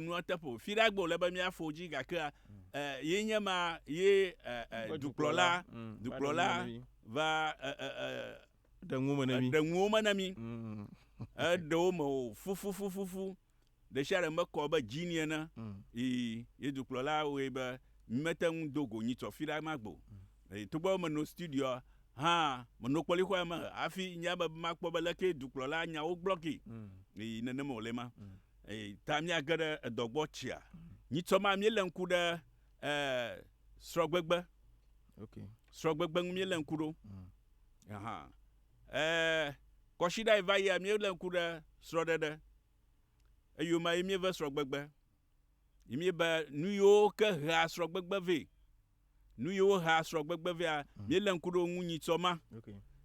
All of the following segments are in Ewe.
nua teƒe o fi ɖagbe wòle be míafɔ wo dzi gake e, ye nye ma ye e, e, dukplɔla mm. dukplɔla va e, e, e, ɖe ŋuwo me ne mi ɖe ŋuwo me ne mi mm. eɖewo me o fufufufufu ɖe sia ɖe mekɔ be dzi ni ene mm. ye dukplɔla wɔe be mete ŋu do go nyitsɔ fi ɖe ma gbo togbɔ menɔ studio hã menɔ kpɔlixɔa me hafi nya be makpɔ be leke dukplɔla nyawo gblɔ ke nenema wòle ma. Mm. Eyi ta míage ɖe edɔ gbɔ tsia. Nyitsɔ ma míelé ŋku ɖe e srɔgbegbe. Ok. Srɔgbegbe ŋu míelé ŋku ɖo. Mm. Ahan. E kɔsiɖa yi va yia míelé ŋku ɖe srɔɖeɖe. Eyome ye míeve srɔgbegbe. Yi míebe nuyiwo ke hea srɔgbegbe vɛ. Nu yiwo hea srɔ̃gbegbe vea, hmm. míelé ŋku ɖe wo ŋu nyitsɔ ma.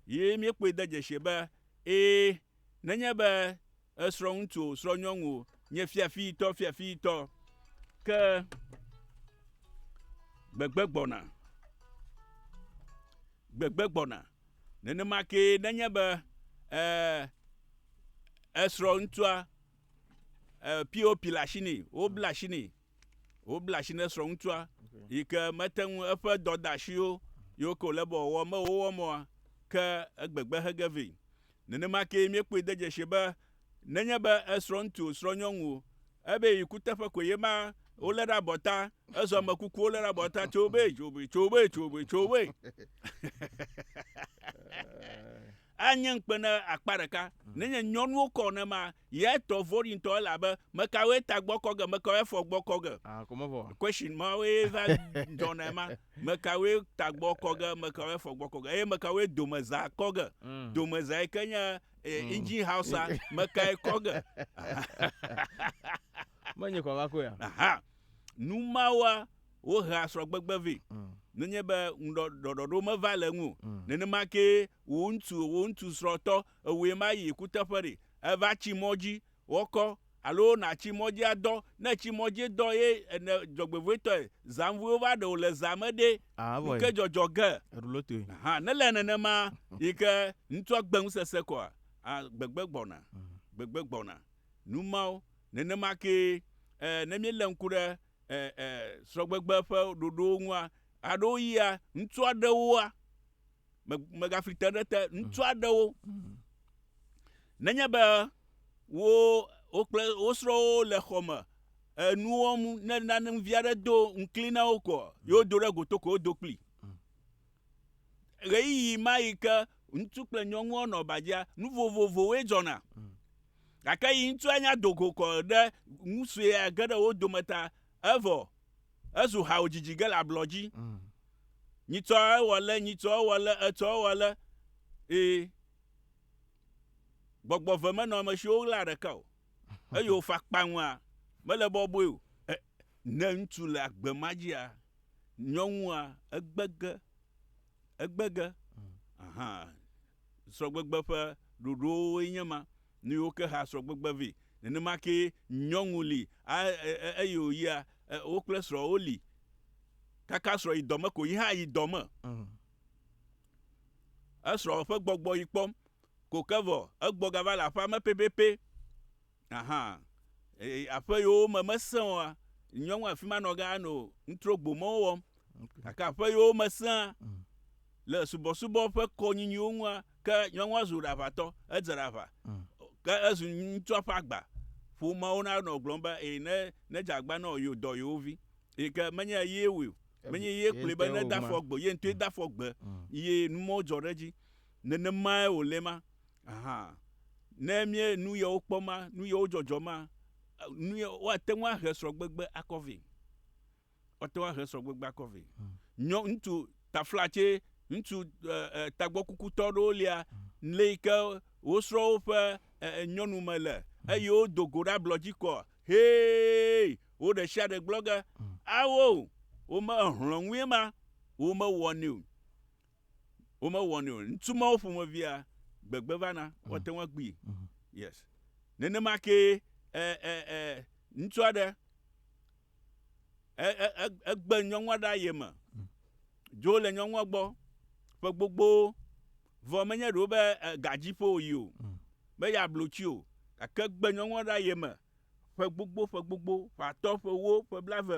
Ye míekpɔe de dzesi be, ee, nenye be esrɔ̃ŋutsu o, srɔ̃nyɔnu o, nye fiafitɔ, fiafitɔ, ke gbegbe gbɔna. Gbegbe gbɔna. Nenema ke nenye be ee, esrɔ̃ ŋutsua pop le asi nɛ wobla asi nɛ Wobla asi ne srɔ̃ŋutsua yi ke mete ŋu eƒe dɔdeasiwo yiwo ke wòle be wòawɔ me wowɔm oa, ke egbegbe he ge vɛ. Nenema kee míekpɔe de dzesi be nenye be esrɔ̃ŋutsu o srɔ̃nyɔnu o, ebe yi kuteƒe koe ye ma wolé ɖe abɔta, ezɔ ame kuku wolé ɖe abɔta, tso be, tso be, tso be, tso be, tso be. Anye ŋukpe na akpa ɖeka. Nenye nyɔnuwo kɔ nenema Yɛ tɔ voɖi ŋtɔ elabe mekawɔɛ ta gbɔkɔ ge, mekawɔɛ fɔ gbɔkɔ ge. Ah, kò mevɔ. Question mawoe va dzɔna ema. Mekawɔɛ ta gbɔkɔ ge, mekawɔɛ fɔ gbɔkɔ ge, eye mekawɔɛ domeza kɔ ge. Mm. Domeza yi ke nye eh, mm. engine house-a, mekae kɔ ge. Menye kɔ va koe ya. Aha. Nu mawoa, wohea srɔ̃gbegbe vɛ. Mm. Nenye be ŋuɖɔɖɔɖo meva le ŋu, mm. nenema ke wò ŋutsu, wò ŋutsu srɔ̃tɔ Ewòe ma yi kuteƒe ɖe? Èva tsi mɔ dzi wɔkɔ alo nàtsi mɔ dzi adɔ? Ne ètsi mɔ dzi dɔ ye ne dzɔgbevɔ̃etɔe zanvuiwo va ɖe wò le zã me ɖe, nu ke dzɔdzɔ ge hã nele nenema yi ke ŋutsua gbe ŋusese kɔa? A Gbegbe gbɔna, gbegbe gbɔna. Nu mawo. Nenema kee e, ne míelé ŋku ɖe e, e, srɔ̃gbegbe ƒe ɖoɖowo ŋua, ɣeaɖewoɣia, ŋutsu aɖewoa, megafli te ɖe te ŋutsu mm. aɖewo mm. nenye be wo wo kple wo srɔ̃wo le xɔ me enu wɔm ne nane vi aɖe do ŋkli na wo kɔ mm. yewo do ɖe goto ko wodo kpli ɣeyiɣi ma yi ke ŋutsu kple nyɔnua nɔ badzia nu vovovowoe dzɔna gake yi ŋutsua nya dogo kɔ ɖe ŋutsua ge ɖe wo dome ta evɔ Ezu hao dzidzi ge le ablɔ dzi. Nyitsɔ ewɔ le, nyitsɔ ewɔ le, etsɔ ewɔ le. Ee. Gbɔgbɔ ve menɔ ame siwo ɣlaa ɖeka o. Eye wòfa kpaŋua, mele bɔbɔe o. E, ne ŋutsu le agbe ma dzia, nyɔnua egbe ge. Egbege hã, srɔ̃gbegbe ƒe ɖoɖowoe nye ma, nuyiwo ke hea srɔ̃gbegbe vɛ. Nenema kee nyɔnu li, eye wòyia, wo kple srɔ̃a woli, kaka srɔ̃ yi dɔ me ko, yi hã ayi dɔ me. Esrɔ̃ ƒe gbɔgbɔ yi kpɔm ko ke vɔ egbɔ gava le aƒea me pɛpɛpɛ. Aha. Eye aƒe yewo me mesẽ oa, nyɔŋ afi ma nɔ gã no ŋutro gbo mɔwo wɔm. Gake aƒe yewo me sẽa mm. le subɔsubɔ ƒe kɔ nyinyiwo ŋua, ke nyɔŋua zu ɖaʋatɔ, edze ɖaʋa. Mm. Ke ezu ŋutsua ƒe agba. Ƒomewo na nɔ gblɔm be, eye ne, ne dze agba nɔ yewo dɔ yewo vi. Eye ke menye ye wui o. Menye ye kplɔe be ne dafɔ gbe, ye ŋutɔe mm. dafɔ gbe. Mm. Ye numɔwo dzɔ ɖe edzi. Nenemae wòle ma. Hã. Ne mie nu yewo kpɔ ma, nu yewo dzɔdzɔ ma, nu ye woate ŋu ahe srɔ̃gbegbe akɔ vɛ. Woate ŋu ahe srɔ̃gbegbe akɔ vɛ. Hmm. Nyɔ ŋutsu taflatse, ŋutsu tagbɔkukutɔ ɖewo lia, le yi ke wo srɔ̃wo ƒe nyɔnu me le, hmm. eye wodo go ɖe ablɔ dzi kɔ, hee, wo ɖe sia ɖe gblɔ ge, hmm. awo, wome ehlɔ̃ ŋue ma, womewɔnɛ o. womewɔnɛ o ŋutsu mawo ƒomevia gbegbe vana mm. woate ŋu akpui mm-hmm. yes nenema ke ŋutsu aɖe egbe nyɔnua ɖe aye me mm. dzo le nyɔnua gbɔ ƒe gbogbo vɔ menye ɖewo be gadziƒo yi o mm. be yeablo tsi o gake gbe nyɔnua ɖe aye me ƒe gbogbo ƒe gbogbo ƒe atɔ ƒe wo ƒe blave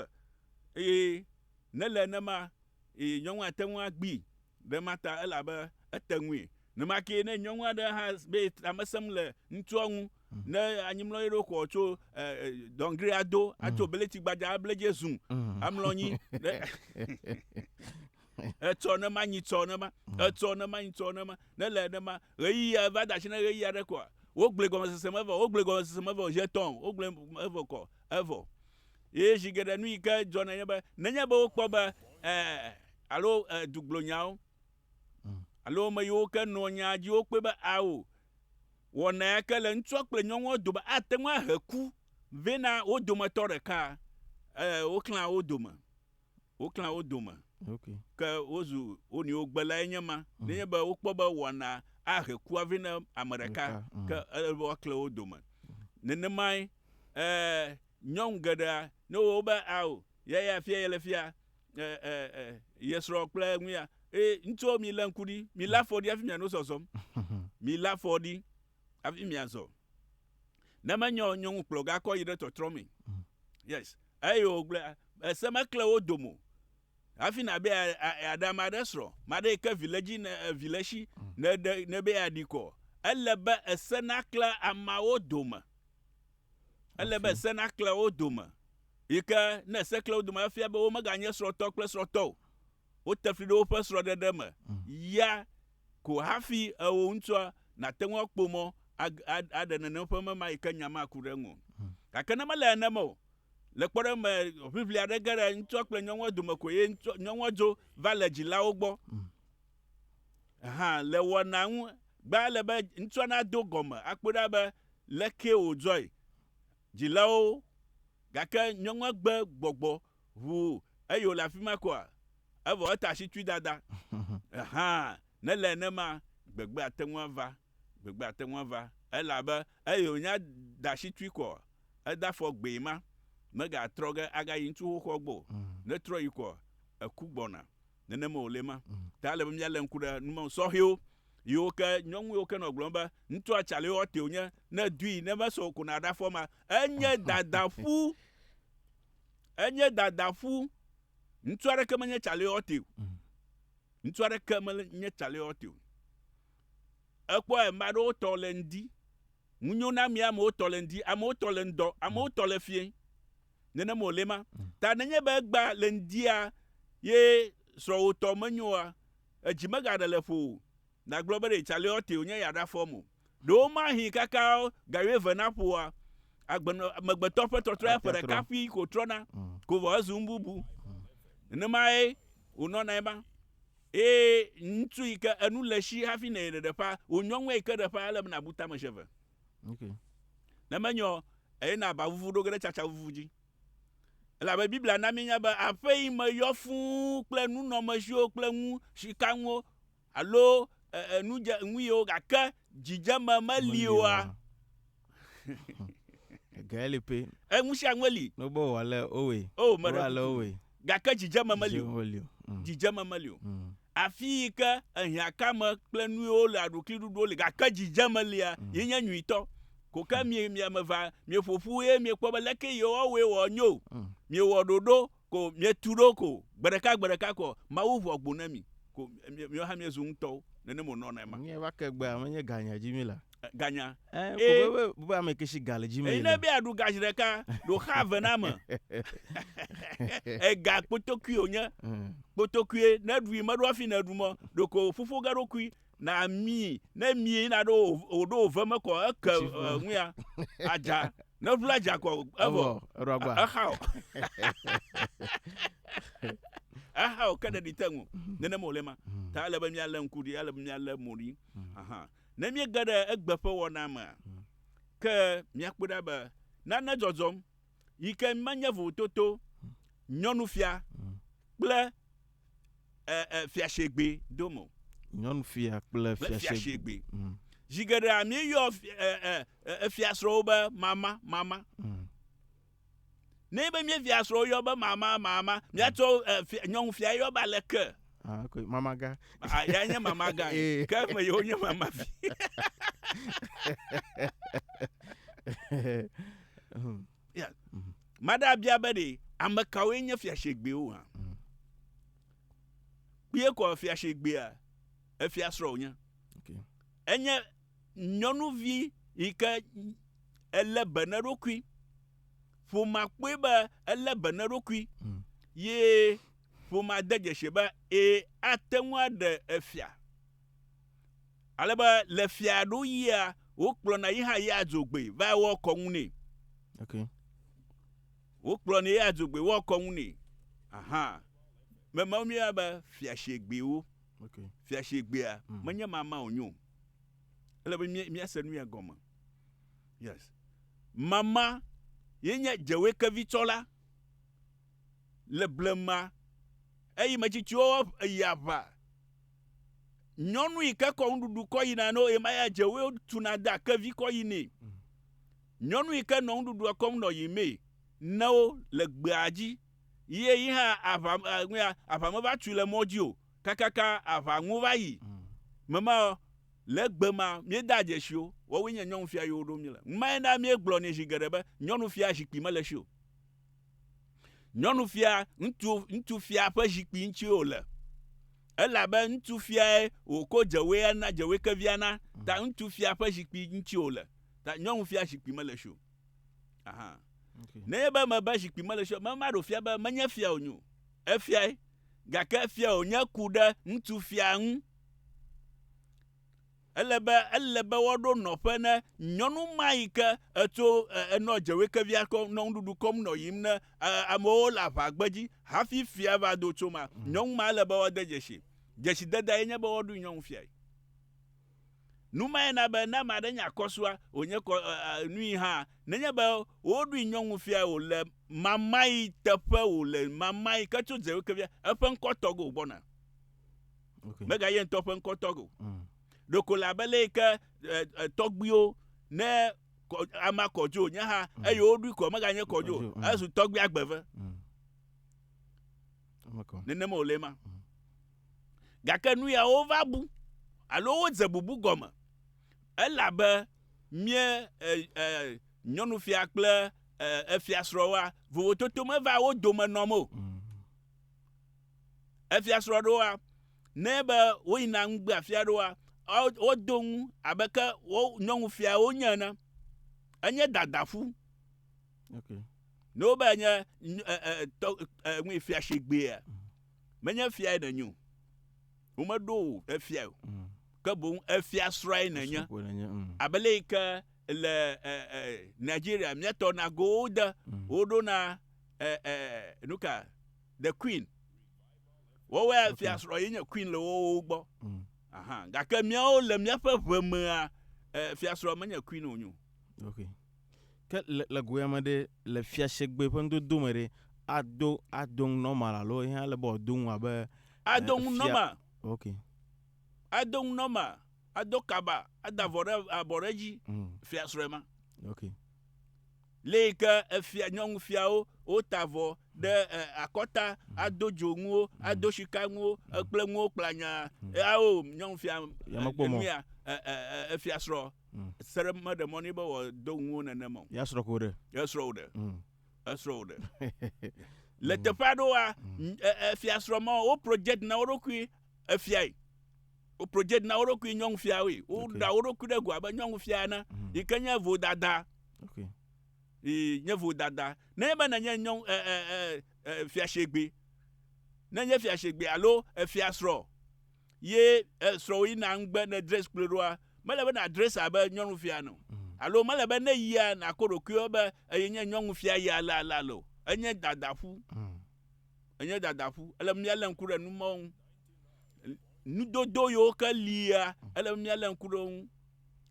eye ne le nenema eye nyɔnu ate ŋu agbee ɖe ema ta elabe ete ŋui. Nenema kee ne nyɔnu aɖe hã be ta mesẽm le ŋutsua ŋu, ne anyi mlɔ eɖo xɔ tso dɔngri ado, atso bleti gbadza able edzi zu amlɔ anyi ɖe etsɔ ne manyi tsɔ ne ma, etsɔ ne manyi tsɔ ne ma, ne le ne ma ɣeyiɣi eva de asi ne ɣeyiɣi aɖe koa, wogblẽ gɔmesese me vɔ, wogblẽ gɔmesese me vɔ zi etɔ̃, wogblẽ evɔ kɔ evɔ. Eye zi geɖe nu yi ke dzɔ nenye be, nenye be wokpɔ be eh, alo eh, duglonyawo, mm. alo ame yiwo ke nɔ nyaa dzi wokpɔe be ao, wɔna ya ke le ŋutsua kple nyɔnua dome ate ŋu ahe ku vɛ na wo dometɔ ɖeka, eh, woklã wo dome. woklã wo dome, okay. ke wozu wo nɔewo gbe lae nye ma. Mm. Nenye be wokpɔ be wɔna ahe kua vɛ na ame ɖeka, mm. ke ele be woakle wo dome. Mm. Nenemae eh, nyɔnu geɖea ne wo be ao ya ya fia yele fia eh, eh, eh, yesrɔ̃ kple nu ya eh, ŋutsuwo mi le ŋku ɖi mi la fɔ ɖi hafi miano zɔzɔm mi la fɔ ɖi hafi miazɔ. ne menyɔ nyɔnu kplɔ gakɔ yi ɖe tɔtrɔ me mm. yes eye wògblẽ ese mekle wo domo hafi nabe aɖe ame aɖe srɔ̃ maɖe yi ke vi le dzi ne vi le si mm. ne ɖe ne be aɖi kɔ ele be ese nakle ameawo dome ele be ese nakle wo dome yi ke ne ese kle wo dome efia be womeganye srɔ̃tɔ kple srɔ̃tɔ o wote fli ɖe woƒe srɔ̃ɖeɖe me mm. ya Ko hafi eo ŋutua nàte ŋu akpɔ mɔ aɖe nene ƒe mema yi ke nya maku ɖe eŋu o. Gake ne mele nenema o, le kpɔɖeŋu me, ʋiʋli aɖe ge ɖe ŋutsua kple nyɔnua dome ko eye nyɔnua dzo va le dzilawo gbɔ. Hã, le wɔnaa ŋu gbea, ele be ŋutsua nado gɔme akpɔe ɖa be lekee wòdzɔe. Dzilawo, gake nyɔnua gbe gbɔgbɔ Ʋu eye wòle afi ma koa? Evɔ eta asi tui dada. Hã, ne ele nenema, gbegbe ate ŋu ava, gbegbe ate ŋu ava, elabe eye wònya da asi tui koa, eda afɔ gbee ma, megatrɔ ge agayi ŋutsu xoxoa gbɔ o. Ne etrɔ yi koa, eku gbɔna. Nenema wòle ma. Ta ele be míalé ŋku ɖe nu sɔhɛwo yiwo ke nyɔnu yiwo ke nɔ gblɔm be, ŋutsua tsa lɛ wɔ tee wònye, ne edui, ne mesɔ o ko na ɖe afɔ ma. Enye dada ƒu. Enye dadaƒu. Ŋutsu aɖeke menye Chaliote o. Mm. Ŋutsu aɖeke menye Chaliote o. Ekpɔ ame aɖewo tɔ le ŋdi. Ŋunyo na mi amewo tɔ le ŋdi, amewo tɔ le ŋdɔ, amewo tɔ le fie. Nenema wòle ma. Mm. Ta nenye be egba le ŋdia ye srɔ̃wò tɔ menyoa, edzi megaɖe le ƒo o. Nàgblɔ be ɖe Calliotee wònye ya ɖafɔm o. Ɖe womahee kaka ga wuieve naƒo oa? Agbenɔ, amegbetɔ ƒe tɔtrɔe ƒe ɖeka ƒii ko trɔna ko vɔ hezu nu bubu. Nenemae wònɔnae ma. Eye ŋutsu yi ke enu le esi hafi nɛ ɖeɖe ƒã, wònyɔ ŋue yi ke ɖe ƒã, ele be nàbu tame zi eve. Ne menyɔ o, eye na aba vuvu ɖo ge ɖe tsatsa vuvu dzi. Elabe Biblia na míenya be aƒe yi me yɔ fũu kple nunɔmeziwo kple nu, sikanuwo, Alo e, nu dze ŋui o, gake dzidzeme meli oa? Ege li pɛ. E, nu sia nue li. Nobe wòwa le owe. O, meɖe le owe. Gake dzidzeme meli o. Mm. Dzidzeme meli o. Mm. Afi yi ke ehiãkame kple nuyiwo le aɖukli ɖuɖuwo li, gake dzidzeme lia, mm. yi nye nyuitɔ. Koke mi mi ame va mieƒoƒu ye miekpɔ be leke yewɔwoe wɔ nyo. Miewɔ ɖoɖo Ko mietu ɖo ko, gbeɖeka gbeɖeka ko Mawu ʋu agbo na mi, ko miwo hã miezu ŋutɔwo, nenem wònɔ nɛ ma. Nye va ke gbea menye ganya dzi mi la. Ganya. Ẽ, ko Ee. be be ame ke si ga le dzi mi Eyi le. nebe aɖu ga ziɖeka, ɖo xa eve na ame. Ega kpotokui wònye. Ẽ. Kpotokuie, ne eɖui meɖo hafi nèɖu mɔ, ɖeko ƒuƒoge eɖokui. Na amii, ne mii na ɖo wòɖo wòve me kɔ eke ŋuia, adza. Ne ʋla dza kɔ evɔ, exao. Exao ke ɖeɖi te ŋu. Nenema wòle ma. Hmm. Ta ele be míalé ŋku ɖi, ele be míalé mo ɖi. Hmm. Aha. Ne míege ɖe egbe ƒe wɔna mea, hmm. ke míakpɔe ɖa be nane dzɔdzɔm yi ke menye vovototo, nyɔnufia kple e, e, fiasegbe dom o. Nyɔnufia kple fiasegbe. Mm. Zi geɖea míeyɔ efiasrɔ̃wo be mama, mama. Mm. Ne be mía fiasrɔ̃wo yɔ be mama, mama, míatsɔ mm. nyɔnufia yɔ be aleke. Ah, okay. Mama ga. Ah, ya nye mama ga. Eh. Ke me yewo nye mama fi. Hmm. Yeah. Mhm. Maɖe abia be ɖe ame kawoe nye fiasegbewo hã. Mhm. Kpee kɔ fiasegbea efia srɔ̃ wònye. Okay. Enye nyɔnuvi yi ke elé be ne ɖokui. Ƒomea kpɔe be elé be ne ɖokui Mhm. ye ƒomea de dzesi be ee ate ŋu aɖe efia. Ale be le fiaɖuɣia, wokplɔna yi hã yia dzogbee va wɔa kɔnu nɛ. Ok. Wokplɔnɛ yia dzogbee wɔa kɔnu nɛ. Aha. Memawo míeyɔna be fiashegbewo. Ok. Fiashegbea mm. menye mama wònye o. Ele be míase nu ya gɔme. Yes. Mama ye nye dzewekevitsɔla le blema eye metsitsiwo yi aʋa nyɔnu yi ke kɔ nuɖuɖu kɔ yina no ema ya dze wo tuna da kevi kɔ yi nɛ nyɔnu yi ke nɔ nuɖuɖua kɔm nɔ yi mee ne wo le gbea dzi ye yi hã aʋa ŋua aʋa me va tui le mɔ dzi o kakaka aʋa ŋu va yi mema le gbe ma míeda dzesi wo wɔwoe nye nyɔnufia yiwo ɖo mi le ŋmae na míegblɔ nɛ zi geɖe be nyɔnufia zikpui mele si o Nyɔnu fia ŋutsu ŋutsu fia ƒe zikpui ŋuti wòle. Elabe ŋutsu fiae wòko dzewoe na dzewoe kevia na. Ta ŋutsu fia ƒe zikpui ŋuti wòle. Ta nyɔnu fia zikpui mele si o. Aha. Okay. Nenye be mebe zikpui mele si o, memaɖo fia be menye fia wònye o. Efiae. Gake fia wònye ku ɖe ŋutsu fia ŋu. Ele be ele be woaɖo nɔƒe ne nyɔnu ma yi ke etso enɔ dzewoekevia kɔm nɔ nuɖuɖu kɔm nɔ yiyim ne amewo le aʋa gbedzi hafi fia va do tso ma. Nyɔnu ma ele be woade dzesi. Dzesidede ye nye be woaɖui nyɔnu fiae. Nu mae na be ne ame aɖe nye akɔsua wònye kɔ nui hã nenye be woɖui nyɔnu fiae wòle mamayi teƒe wòle mamayi ke tso dzewoekevia eƒe ŋkɔtɔgo gbɔna. mega ye ŋutɔ ƒe ŋkɔ tɔgbe o mm. ɖeko le abe le yike tɔgbiwo ne ama kɔdzo nye ha mm. eye woɖui kɔ meganye kɔdzo mm. ezu tɔgbi agbeve nenema wòle ma gake nu yawo va bu alo wodze bubu gɔme elabe mie nyɔnufia kple efiasrɔ̃wa vovototo meva wo dome nɔm o efiasrɔ̃ ɖoa, ne be woyina ŋugbea fia ɖoa, wodo ŋu abe ke wo nyɔnufiawo nye ene. Enye dadaƒu. Okay. Ne wobe enye ŋui fia shegbea, menye fia ye nenyo. Womeɖo o efia o. Mm. Ke boŋ efia srɔ̃e nenye. Mm. Abele yi ke le Nigeria miatɔ na go de mm. woɖo na nuka The Queen. Wowɔe okay. fiasrɔ̃ ye nye Queen le wowo gbɔ. Mm. Aha, gake míawo le míaƒe ʋe mea eh, fiasrɔ̃ menye Queen o nyo. Okay. Ke le, le goya me ɖe le fiasegbe ƒe ŋdodo me ɖe ado ado ŋu normal alo ihe ale be wòado ŋu abe eh, ado ŋu normal. Okay. Ado ŋu normal, ado kaba, ada vɔ ɖe abɔ ɖe dzi mm. fiasrɔ̃e ma. Okay. Le yi ke efia, nyɔnufiawo wota avɔ ɖe e, akɔta, ado dzonuwo, ado shikanuwo e, kple nuwo kplanya. Ao, nyɔnufia e, mekpɔ mɔ. enua, e, e, e, efiasrɔ se ɖe meɖe mɔ nɛ be wòado nuwo nenem o. Ya srɔ̃ ko ɖe. Esrɔ̃ wo ɖe. Esrɔ̃ wo ɖe. Le teƒe aɖewoa, n- e, e, efiasrɔ̃ mawo, wo project na wo ɖokui efiae. Wo project na wo ɖokui nyɔnufiawoe. Woɖa wo ɖokui ɖe go abe nyɔnufia ene mhm. yi ke nye vodada. Okay. Yi nye vodada. Ne ebe nenye nyɔnu e e e e fiashegbe. Ne nye fiashegbe alo efia srɔ̃ ye esrɔ̃wo yina ŋgbe ne dress kple ɖoa mele be na dress abe nyɔnufia no. Mhm. Alo mele be ne yia nakɔ ɖokuiwo be eye nye nyɔnufia ya la la lo. Enye dadaƒu. Mm. enye dadaƒu. Ele be míalé ŋku ɖe nu mawo ŋu. Nudodo yiwo ke lia, ele be míalé ŋku ɖe wo ŋu.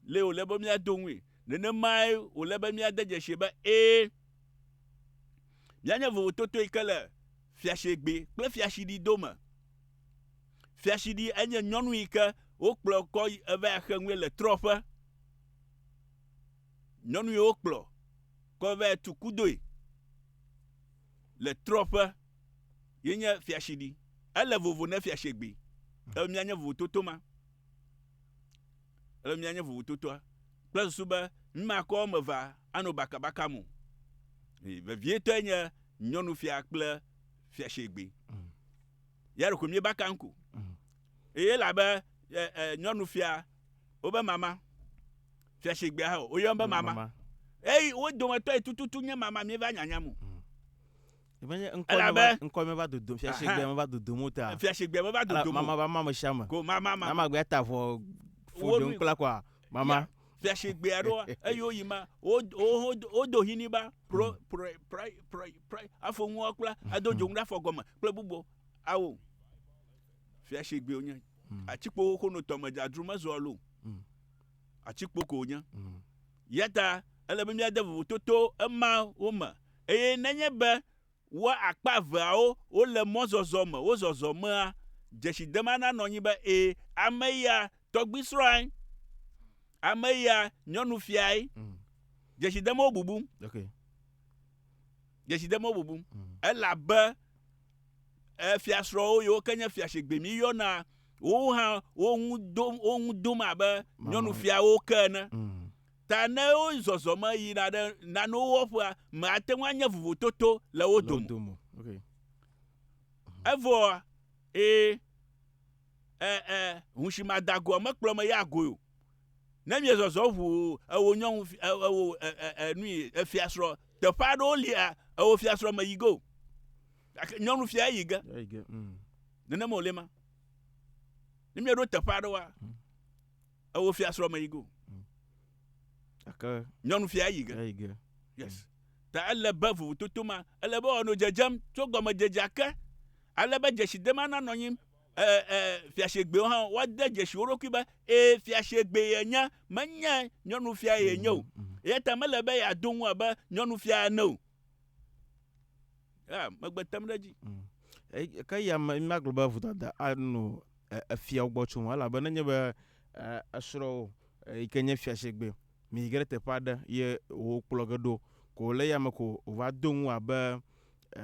Lee wòle be míado ŋui. Nenemae wòle be míade dzesii be ee, míanye vovototo yi ke le fiasegbe kple fiaɖuɖi dome. Fiaɖuɖi enye nyɔnu yi ke wokplɔ kɔ yi eva yi xe nue le trɔ̃ƒe. Nyɔnu yi wokplɔ kɔ va yi tu kudoe. Le trɔ ƒe ye nye fiashiɖi. Ele vovo ne fiashegbe. Ele mia nye vovototo ma. Ele mia nye vovototoa. Kple susu be mima kɔ eme va ano baka baka mo. Vevie tɔ ye nye nyɔnufia kple fiashegbe. Mm. Yaro ko mie baka nko. Mm. Eye elabe e, e, nyɔnufia, wobe mama, fia sigbea hã, woyɔn be mama. mama. Eyi wo dometɔ yi tututu nye mama míeva nyanyam o. Mm. Ebenye ŋkɔ elabe ŋkɔ meva dodom fia sigbea meva dodom o ta. Fia sigbea meva dodom. Mama va mama sia me. Ko mama mama. Mama gbea ta vɔ fo do ŋkla kwa mama. Yeah. fiase gbea ɖo eye woyi ma wodo hini ba pro mm. pro pro pro pro afɔ ŋua kpla ado mm. dzoŋu ɖe afɔ gɔme kple bubu awo Fia si gbe wonye. Mm. Atikpowo ko no tɔme dzadru mezɔa lo. Mm. Atikpo ko wonye. Mm. Yata ele be míade vovototo emawo me eye nenye be wo akpa eveawo wole mɔzɔzɔ me, wo zɔzɔ mea, dzesidema nanɔ anyi be e, ame ya tɔgbui srɔ̃ae, ame ya nyɔnu fiae. Mm. Dzesidemawo bubum. Okay. Dzesidemawo bubum. Mm. Elabe E, fiasrɔ̃wo yiwo ke nye fia shigbe mi yɔna wowo hã wo ŋu dom wo ŋu dom abe nyɔnufiawo ke ene. Ta ne wo zɔzɔme yina ɖe nanewo wɔƒea, me ate ŋu anye vovototo le wo dome. Evɔa, e, e, e, hushimadagoa mekplɔ me ya goe o. Ne miezɔzɔ ʋu ewò nyɔnu e, ewò e, e, e, nui efiasrɔ̃ teƒe aɖewo lia ewò fiasrɔ̃ me yi go. Gake nyɔnu fia eyi ge. Eyi ge. Mm. Nenema wòle ma. Ne míeɖo teƒe aɖewoa, mm. ewo fia srɔ̃ me yi go. Mm. Gake nyɔnu fia eyi ge. Eyi ge. Yes. Mm. Ta ele be vovototo ma, ele be wòanɔ dzedzem tso gɔmedzedzea ke, ale be dzesidema nanɔ anyi fiasegbewo hã woade dzesi wo ɖokui be ee fiasegbe yenye menye nyɔnufia yenye o mm, mm. eya ta mele be yeado ŋu abe nyɔnufia ene o Ya, megbe tem ɖe edzi. Mm. E- Ke ya me- magblɔ be vodada ano e- efiawo gbɔ tsom, elabe nenye be e, esrɔ̃wò e, yi ke nye fiasegbe mi yi ge ɖe teƒe aɖe ye wòkplɔ ge ɖo ko wòle eyame ko wòva do ŋu abe e,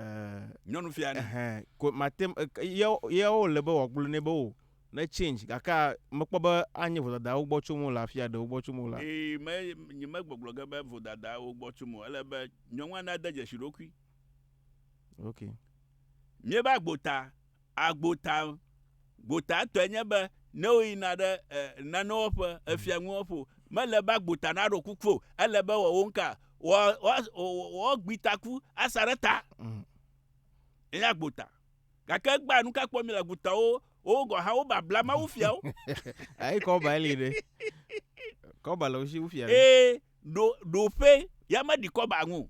Nyɔnufia ne. Ɛhɛn, ko mate ŋu- e- ke- ye ye wòle be wòagblɔ nɛ be o ne change gakea mekpɔ be anye vodada wo gbɔ tsom o le afia ɖe wo gbɔ tsom o la. Ee, me, nyemegbɔgblɔ ge be vodada wo gbɔ tsom o. Ele be Nyɔnua nade dzesi ɖokui. Ok. Míebe agbota. Agbota, gbota tɔe nye be ne woyina ɖe e, nanewo ƒe, mhm. efia nuwo ƒo, mele be agbota naɖo kuku o. Ele be wɔ wo ŋka, wɔgbi taku asa ɖe ta. Mhm. Enye agbota. Gake egbea nu ka kpɔ mi le agbotawo wo gɔn hã wo babla mawu fiawo. Ayi kɔba li ɖe. Kɔba le wo si wo fia ɖe. Ee. ɖo ɖo ƒe ya me ɖi kɔba ŋu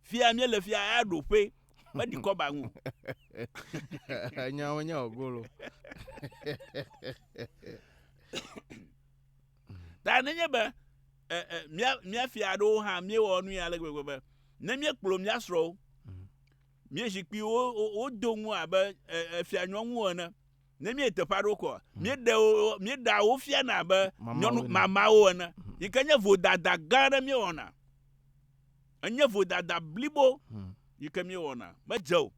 fia mi le fia ya ɖo ƒe me ɖi kɔba ŋu nyawo nya ogolo ta ne nye be ɛ ɛ mia mia fia ɖo ha mi wɔ nu ya le gbegbe be ne mi kplɔ mia srɔ mi zikpi wo wo do ŋu abe ɛ ɛ fia nyɔnu ene Ne míeyi teƒe aɖewo kɔa, mhm. míeɖe wo míeɖea wo fiana abe nyɔnu mamawo ene, mhm. yi ke nye vodada gã aɖe míewɔna. Enye vodada blibo mhm. yi ke míewɔna. Medze o.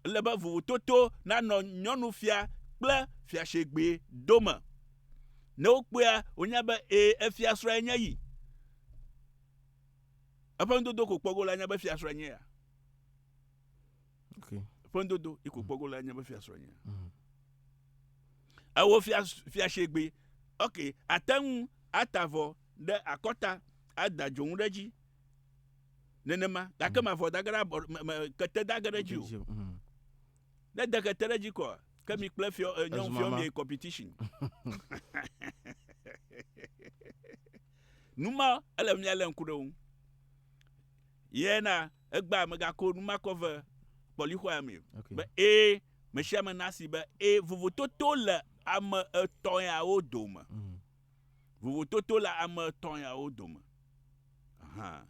Ele be vovototo nanɔ nyɔnufia kple fiasegbe dome. Ne wokpɔea, wonya be ee efiasrɔ̃ enye yi. Eƒe nudodo ko kpɔ go la nya be fiasrɔ̃ enye ya. okay. ƒendodo iko kpɔgo la nye be fiasrɔ nye mm. ewo fiasegbe ok ate ŋu ata vɔ ɖe akɔta ada dzonu ɖe dzi nenema gake mm. mavɔ dage ɖe abɔ kete dage ɖe dzi o mm. ne de kete ɖe dzi kɔa ke mi kple fiɔ eh, nyɔnu fiɔ mi competition numa ele mia le ŋku ɖe ŋu Ye na egbea megako nu ma kɔ ve kpɔlixɔea mee o. Okay. Be ee, me sia me nasi be ee, vovototo le ame etɔ̃ yawo dome. Mm. Vovototo le ame etɔ̃ yawo dome. Aha.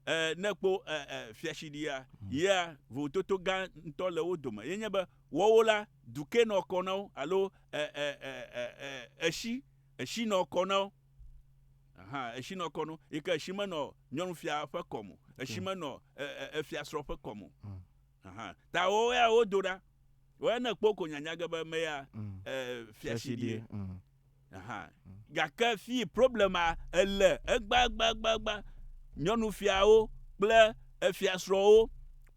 E, ne kpo e, e, fiatsiɖia, mm. yea, vovototo gã ŋutɔ le wo dome. Ye nye be wɔwo la, duke nɔ kɔ na wo alo e, e, e, e, e, eshi, eshi nɔ kɔ na wo. Hã, etsi nɔ kɔ nu, yi ke etsi menɔ nyɔnufia ƒe kɔme o, etsi menɔ efiasrɔ̃ ƒe kɔme o. Mm. Hã, ta wo ya wodo ɖa. Wo ya ne kpɔ ko nyanya ge be me ya mm. fiasiɖie. Mm. Hã, gake fi problema ele egbagbagbagba nyɔnufiawo kple efiasrɔ̃wo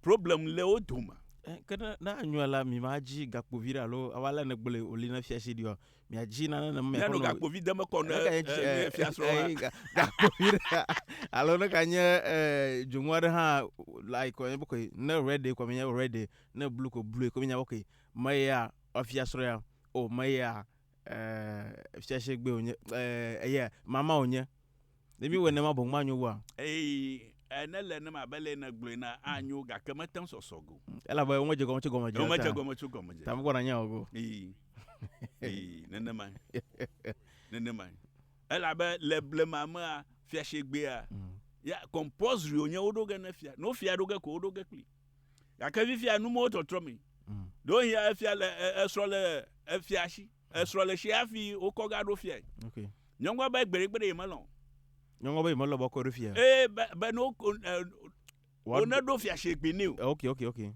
problem le wo dome. Eh, ke ne anyɔe la mi ma dzi gakpo vi ɖe alo awa le ne gblɔe oli ne fiasiɖiɔ miadzi nane ne mia xɔnɔ gakpo vi de me kɔ ne fia srɔ wa gakpo vi de alo ne ka nye dzoŋu aɖe hã like kɔ boko ne red kɔ mi nye red ne blue ko blue ko mi nya boko me ya fia srɔ ya o me ya fia se gbe o nye eye mama o nye Ne míewɔe nenema boŋ manyo oa? Ɛ̃, ne le nenema abe ale si nègblɔe enea, anyo, gake mete ŋu sɔsɔ go. Elabe womedze egɔme tso gɔmedze o. Womedze egɔme tso gɔmedze o. Ta mekpɔna nya o go. Ii, ii, nenemae, nenemae. Elabe le blema mea, fiashegbea, ya, compulsory wònye woɖo ge ne fia. Ne wofia ɖo ge ko, woɖo ge kplii. Gake fifia, numɔwo tɔtrɔ mee. Ɖewohĩa efia le, esrɔ̃ le efia si. Esrɔ̃ le tsi hafi wokɔ ga ɖo fiae. Ok. Nyɔnua be gbeɖegbeɖe yemelɔ̃. Nyɔnua be yemelɔ̃ be wokɔe ɖo fiae. Eye be be ne woko e Woaɖo- woneɖo fiasegbe nɛ o. Ok ok ok.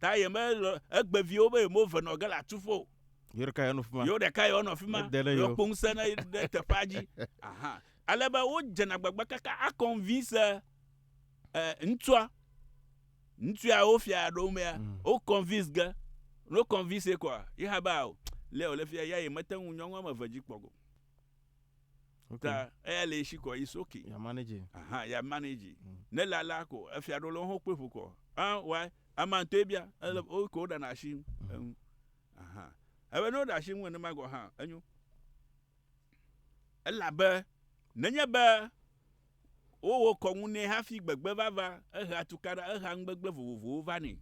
Ta yemelɔ̃ egbe vi wo be yemeve nɔ ge le atsuƒe o. Yewo ɖeka ye wonɔ fi ma. Yewo ɖeka ye wonɔ fi ma. Ede ɖe yewo. Yewoakpɔ ŋusẽ ne ɖe teƒea dzi. Ahan. Ale be wodzena gbagba kaka akɔnvinse. eh, ŋtsua, ŋtsua wo fia ɖo mea, mm. wo convince ge, no convince kɔa, yi ha ba o, le o le fia ya yi mete ŋu nyɔnua me ve dzi kpɔ go. Ta eya le shi kɔ yi soki. Ya manage. Aha, ya manage. Mm. Ne la la ko, efia ɖo le ho kpe ƒo kɔ. Ah, why? Ama to ebia, ele mm. o ko da na shi. Mm. Aha. Ebe no da shi mu ne ma go ha, enyo. Ela be, nenye be Wowɔ kɔnu nɛ hafi gbegbe vava. Ehea tukaɖa, ehea nugbegblẽ vovovowo vanɛ.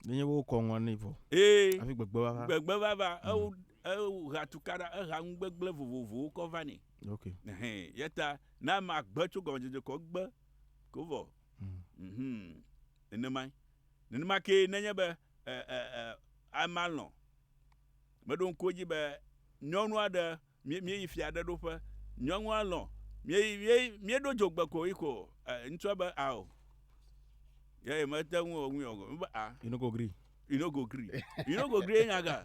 Nenye wowɔ kɔnua nɛ vɔ. Ee. Hafi gbegbe vava. Gbegbe vava. Mm. Ewo, ehea tukaɖa, ehea nugbegblẽ vovovowo kɔ vanɛ. Ok. Ɛhɛn. Yeta, ne ame agbe tso gɔmedzedze kɔ gbe ko vɔ. Mm. Mhm. Nenemae. Nenema kee nenye be e, e, e, amea lɔ̃, meɖo ŋku edzi be nyɔnu aɖe Míeyi fia aɖe ɖoƒe. Nyɔnua lɔ̃. Míeyi, míeyi, míeɖo dzogbe ko yi ko. E, ŋutsua be, ao. Ye yeah, mete ŋu ŋui o. Be, a. You no go gree. You no go gree. You no go gree nyaga.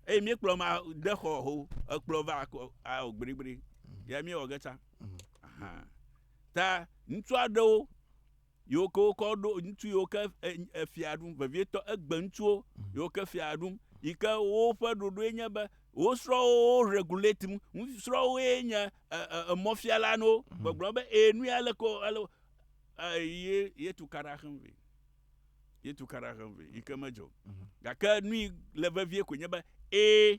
Eye míekplɔ ma de xɔ ho. Ekplɔ va ko, ao, gbrigbri. Ya míewɔ ge tsa. Mhm. Aha. Ta ŋutsu aɖewo Yiwo ke wokɔ ɖo ŋutsu yiwo ke efia ɖum vevietɔ, egbe ŋutsuwo yiwo ke fia ɖum yi ke woƒe ɖoɖoe nye be wo srɔ̃wo wo regulate nu. Srɔ̃woe nye emɔfiala na wo, gbɔgblɔ be e nu ya leke wo ye yetu ka ɖe axem vɛ. Yetu ka ɖe axem vɛ yi ke medzɔ o. Gake nu yi le vevie koe nye be e.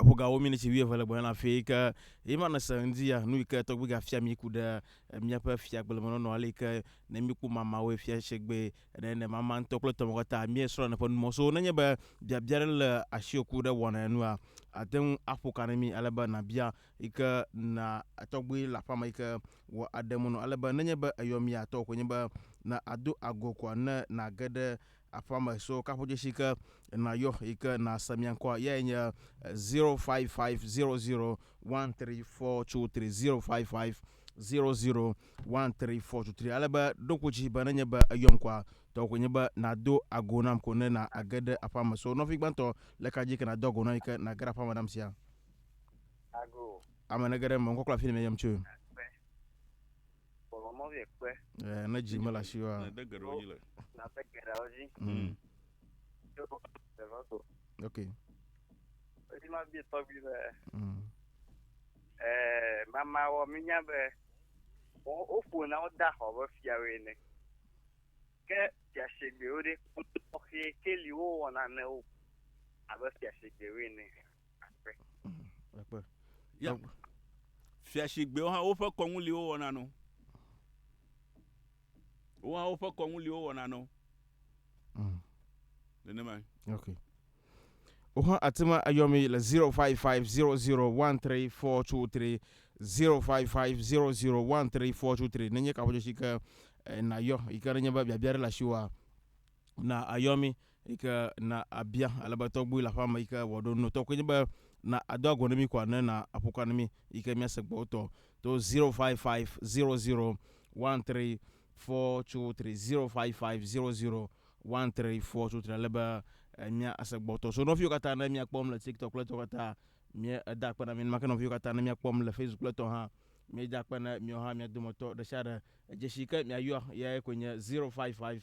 Eƒo ga wo miniti wuieve le gbɔnye le afi yi ke yema ne se ŋdi ya nu yi ke tɔgbi ga fia mi ku ɖe míaƒe fia kple menɔnɔ ale yi ke ne mi ku mama wo fia shegbe ne ne mama ŋutɔ kple tɔmɔ kata mi esrɔ̃ ne ƒe numɔ so ne nye be biabia ɖe le asio ku ɖe wɔna enua ate ŋu aƒo ka ne mi ale be na bia yi ke na tɔgbi le aƒa me yi ke wɔ aɖe mu no ale be ne nye be eyɔ mi atɔ ko nye be na ado ago ko ne na ge ɖe Aƒea me so kaƒodzesi ke nàyɔ yi ke nàse mia ŋkɔa eyae nye 055001342305500134230 ale be ɖo ŋku dzi be nenye be eyɔm koa tɔwò koe nye be nàdo ago nam ko ne na age ɖe aƒea me so nɔvi gbãtɔ le ka dzi ke nàdo ago nam yi ke nàge ɖe aƒea me nam sia Ago. ame nege ɖe eme ŋkɔ kple afi yi ne meyɔm tsoe. Bɔbɔ mɔ vie kpe. Ɛɛ, ne dzi mele asi wa. Nade geɖewo dzi le. Nade geɖewo dzi. Mm. Yo ɖewo do. Ok. Edi ma bie tɔgbi be. Mm. Ɛɛ, mamawɔ mi nya be wo woƒo na wo da xɔ be fiawoe ne. Ke fiasegbewo ɖe kɔxi ke li wo wɔna ne wo abe fiasegbewoe ne. Ekpe. Ya. Fiasigbewo hã woƒe kɔŋuliwo wɔna no. Wo hã woƒe kɔŋuliwo wɔna no. Mm. Nenemae. Okay. Wo hã ate ŋu ayɔ mi le 0550013423 0550013423 nenye kaƒodzesi ke eh, nayɔ yi ke nenye be biabia ɖe le asiwoa na ayɔ mi Yi ke na abia ale be tɔgbui le aƒea me yi ke wòaɖo nu. Tɔkue nye be na ado agɔ ne mí kɔ ne na aƒo ka ne mí yi ke míase gbɔ wotɔ to zero five five zero zero one three four two three zero five five zero zero one three four two three ale be míase gbɔ wotɔ. So nɔviwo katã ne míakpɔm le TikTok kple etɔ katã mí eda akpe na mí. Nenema ke nɔviwo katã ne míakpɔm le Facebook kple etɔ hã míeda akpe na miwo hã mía dometɔ ɖe sia ɖe. Dzesi yi ke miayɔa eyae koe nye zero five five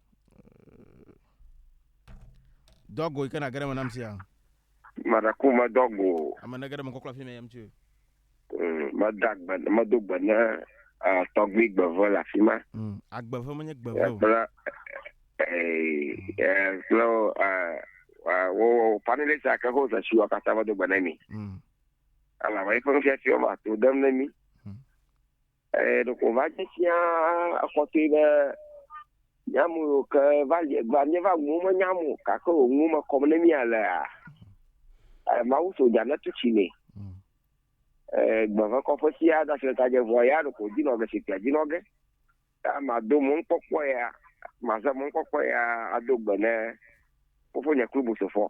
Do ago yi ke na geɖe me nam sia. Madaku me do ago. Ame ne geɖe me kɔkɔ afi me yam tso. Mm, meda gbe medo gbe ne uh, tɔgbi gbeve le afi ma. Mm, agbeve menye gbeve o. Kple eh, eh, kple uh, wo fanile sa ke ho zesi wa kata medo gbe ne mi. Mm. Ala wa ife nufiafi wa to dem ne mi. Ɛɛ, ɖeko wòva dze sia kɔtɔe be mía me yiwo ke va li egbea, míeva nuwo menyam o, gake wò nuwo me kɔm ne mí alea, ɛɛ, Mawu so dza netu tsi nɛ. Ɛɛ, gbe ƒe kɔƒe sia ade asi ɖe ta dze vɔ ya ɖeko wòdinɔ ge sikpuia dzi nɔ ge. Ta mado mɔnukpɔkpɔ ya, maze mɔnukpɔkpɔ ya ado gbe ne fofonye Klubosofɔ.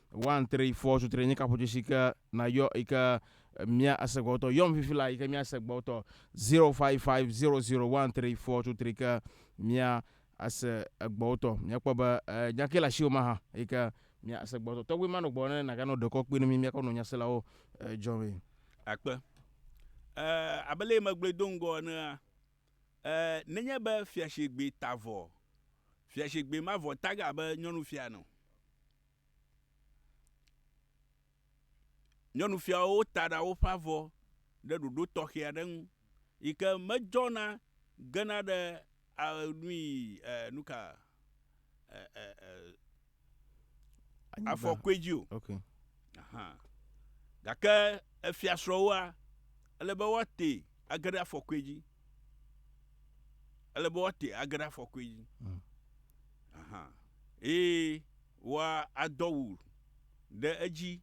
Wan tre yi fɔ sutre nye kaƒo tsoshi ke na yɔ yi ke mia ase gbɔ tɔ yɔm fifi la yi ke mia ase gbɔ tɔ 05500 tre yi fɔ sutre ke mia ase gbɔ tɔ mia kpɔ be nya ke la shi o ma ha yi ke mia ase gbɔ tɔ tɔgbe ma no gbɔ ne na ga no dekɔ kpi no mi mia kɔ no nya se la o jɔ mi akpe eh abele yi megble do ngɔ ne eh nenye be fiashegbe tavɔ fiashegbe mavɔ taga be nyɔnu fia no Nyɔnufiawo ta ɖa woƒe avɔ ɖe ɖoɖo tɔxɛ aɖe nu yi ke medzɔna gena ɖe a nui e nuka e e e afɔkɔe dzi o. Okay. Aha. Gake efiasrɔ̃woa ele be woate age ɖe afɔkɔe dzi. Ele be woate age ɖe afɔkɔe dzi. Mm. Aha. Eye Wòa adɔ wu ɖe edzi.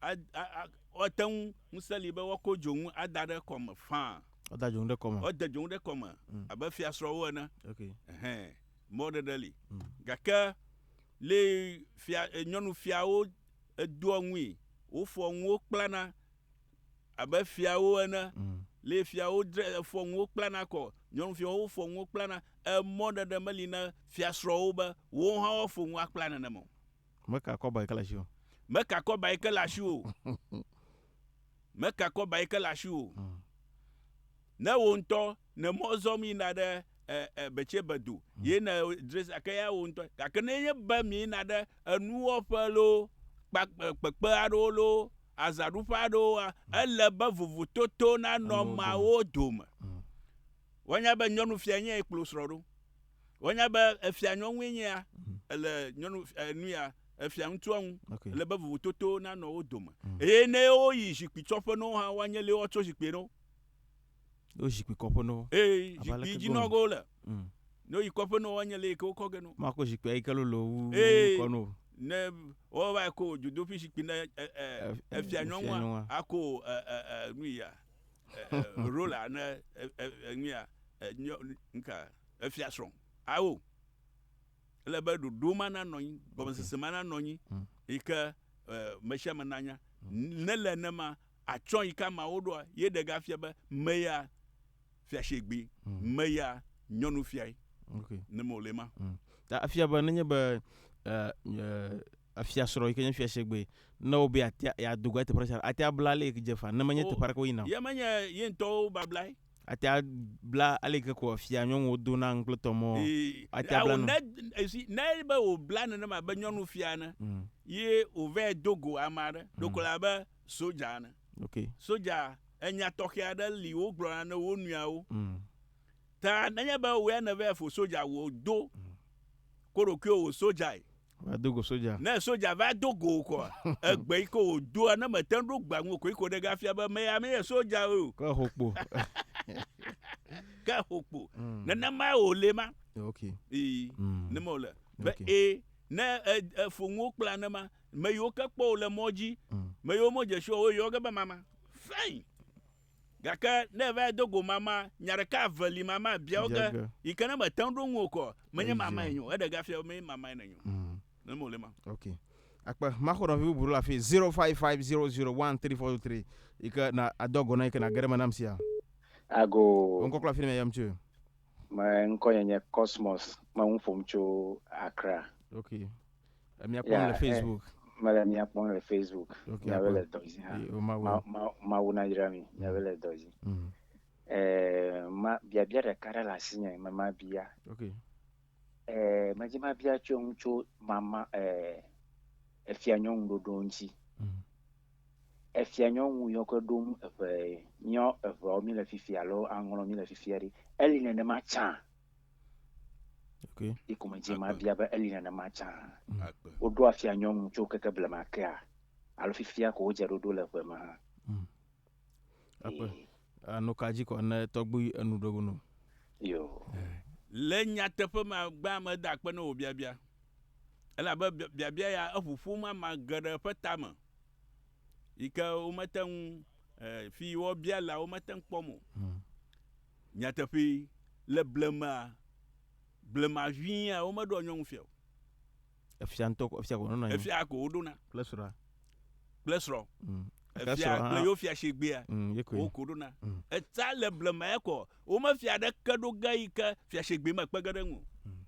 A, a, a, woate ŋu, ŋusẽ li be woakɔ dzonu ada ɖe kɔme faa. Woada dzonu ɖe kɔme. Wode dzonu ɖe kɔme mm. abe fiasrɔ̃wo ene. Okay. Ɛhɛn, mɔɖeɖe li. Mm. Gake le fia, nyɔnufiawo edoa ŋui, wofɔa ŋuwo kplana. Abe fiawo ene, mm. le fiawo dre fɔ nuwo kplana kɔ, nyɔnufiawo fɔ nuwo kplana, emɔ ɖeɖe meli na fiasrɔ̃wo be wo hã woafɔ nu akpla nenema o. Meka kɔba yi ke le asi o. Meka kɔba yi ke le asi o. Meka kɔba yi ke le asi o. Mm. Ne wo ŋutɔ Ne mɔ zɔm yina ɖe e, e, Betsebe do, mm. ye ne dres ake ya wo ŋutɔ. Gake ne nye be mi yina ɖe enuwɔƒe lo, kpekpe aɖewo lo, azaɖuƒe aɖewo, mm. ele be vovototo nanɔ mawo dome. Mm. Wonya be nyɔnufia nye ekplɔ srɔ̃ ɖo. Wonya be efia nyɔnue nye ya, mm. ele nyɔnu enu ya efia ŋutsua ŋu. Okay. Ele be vovototo nanɔ wo dome. Eye ne woyi zikpui tsɔƒe no hã, woanye lewɔ tso zikpui no. Yo zikpui kɔƒe nɔ. Ee, zikpui dzi nɔ go le. Mm. Ne yi kɔƒe nɔ wanye le ke wokɔ ge no. Ma ko zikpui yi ke lolo wu kɔ no. Ne wo va ko dzodoƒi zikpui ne e e efia nyɔnua ako e e e nu ya. Rola ne e e nu ya nyɔ nka efia srɔ̃. Awo. Ele be ɖoɖo ma na nɔ anyi, gɔmesese ma na nɔ anyi. Yi ke e mesiame na nya. Ne le ne ma Atsɔ yi ka mawo ɖoa? Ye ɖe ga fia be me ya fia shegbe me ya nyɔnu fiae. Ok. Ne me ole ma. Mm. Ta afia be nenye be afia srɔ yi ke nye fia shegbe ne wo be atia ya dogo ya teƒe ɖe atia bla ale yi ke dze fa ne menye teƒe aɖe ke wo yina o. Ye menye ye ŋtɔwo bablae. Atia bla ale yi ke ko afia nyɔnuwo do na ŋkple tɔ mɔ atia bla na. Esi ne be wo bla nenema be nyɔnu fia ne ye wo vɛ dogo ama ɖe ɖoko la be. sodza ene. Okay. Sodza enya tɔxɛ aɖe li wogblɔna ne wo nɔeawo. Mm. Ta nenye be wòe nèvea fo sodza wò do mm. ko ɖokuiwò wò sodzae. Va do go sodza. Ne sodza va do go kɔ egbe yi ko wòdoa ne mete ŋu ɖo gbea ŋu ko yi ko ɖe gafia be me ya menye sodza o. Ke ho kpo. Ke ho kpo. Mm. Nenema wòle ma. Okay. Ee. Mm. Nenema wòle. Be okay. ee ne efo nuwo kple anema Me yiwo ke kpɔ wò le mɔ dzi, mm. me yiwo medze si o, woyɔ ge be mama. Fɛn. Gake ne va do go mama, nya ɖeka eve li mama bia wo ge, yi ke ne mete ŋu ɖo ŋu o kɔ, menye mama enyo, eɖe gafia menye mama enyo. Mm. Ne mo le ma. Ok. Akpe maxɔnɔvi bubu le afi 0550013423 yi ke na adɔ gɔna yi ke na gere me nam sia. Ago. Ŋkɔ kple afi ne me yam tso. Me ŋkɔ nye nye Cosmos, me ŋu ƒom tso Accra. Ok. Emia kpɔm le Facebook. Mele mia kpɔm le Facebook. Miabe le dɔ dzi hã. Mawu nayra mi. Miabe le dɔ dzi. Ma biabia ɖeka ɖe le asi nye me ma bia. Medi ma bia tso ŋu tso mama efia nyɔnu ɖoɖo ŋuti. Mm. Efia nyɔnu yɔ ke ɖo ŋu eƒe nyɔ eveawo mi le fifi alo aŋlɔ mi le fifia ɖi. Eli nenema tsã. Okay. Ɖi ko medzi mabia be eli nenema tsã. Mm. Woɖo afia nyɔnu tso keke blema kea alo fifia ko wodze ɖoɖo le ƒe me hã. Mm. Akpe. Anu ka dzi kɔ ne tɔgbu enu ɖo gunu? Yo. Eh. Le nyateƒe me agbea mede akpe ne wò biabia. Elabe biabia ya eʋu ƒom ama geɖe ƒe tame yi ke womete ŋu eh, fi wobialawo mete ŋu kpɔm o. Hmm. Nyateƒee, le blemea, blema ʋĩia, womeɖoa nyɔnu fia o. Efia ŋutɔ ko, efia ko wonɔna anyi. Efia ko woɖona. Kple srɔ̃a. Kple srɔ̃. Mm. Gake Efia srɔ̃a kple hã. yewo fia shigbeea, Mm, ye koe. wo ko ɖona. Mm. Etsã le blema ya kɔ, womefia aɖeke ɖo ge yi ke fia shigbe mekpe ge ɖe eŋu o. Mm.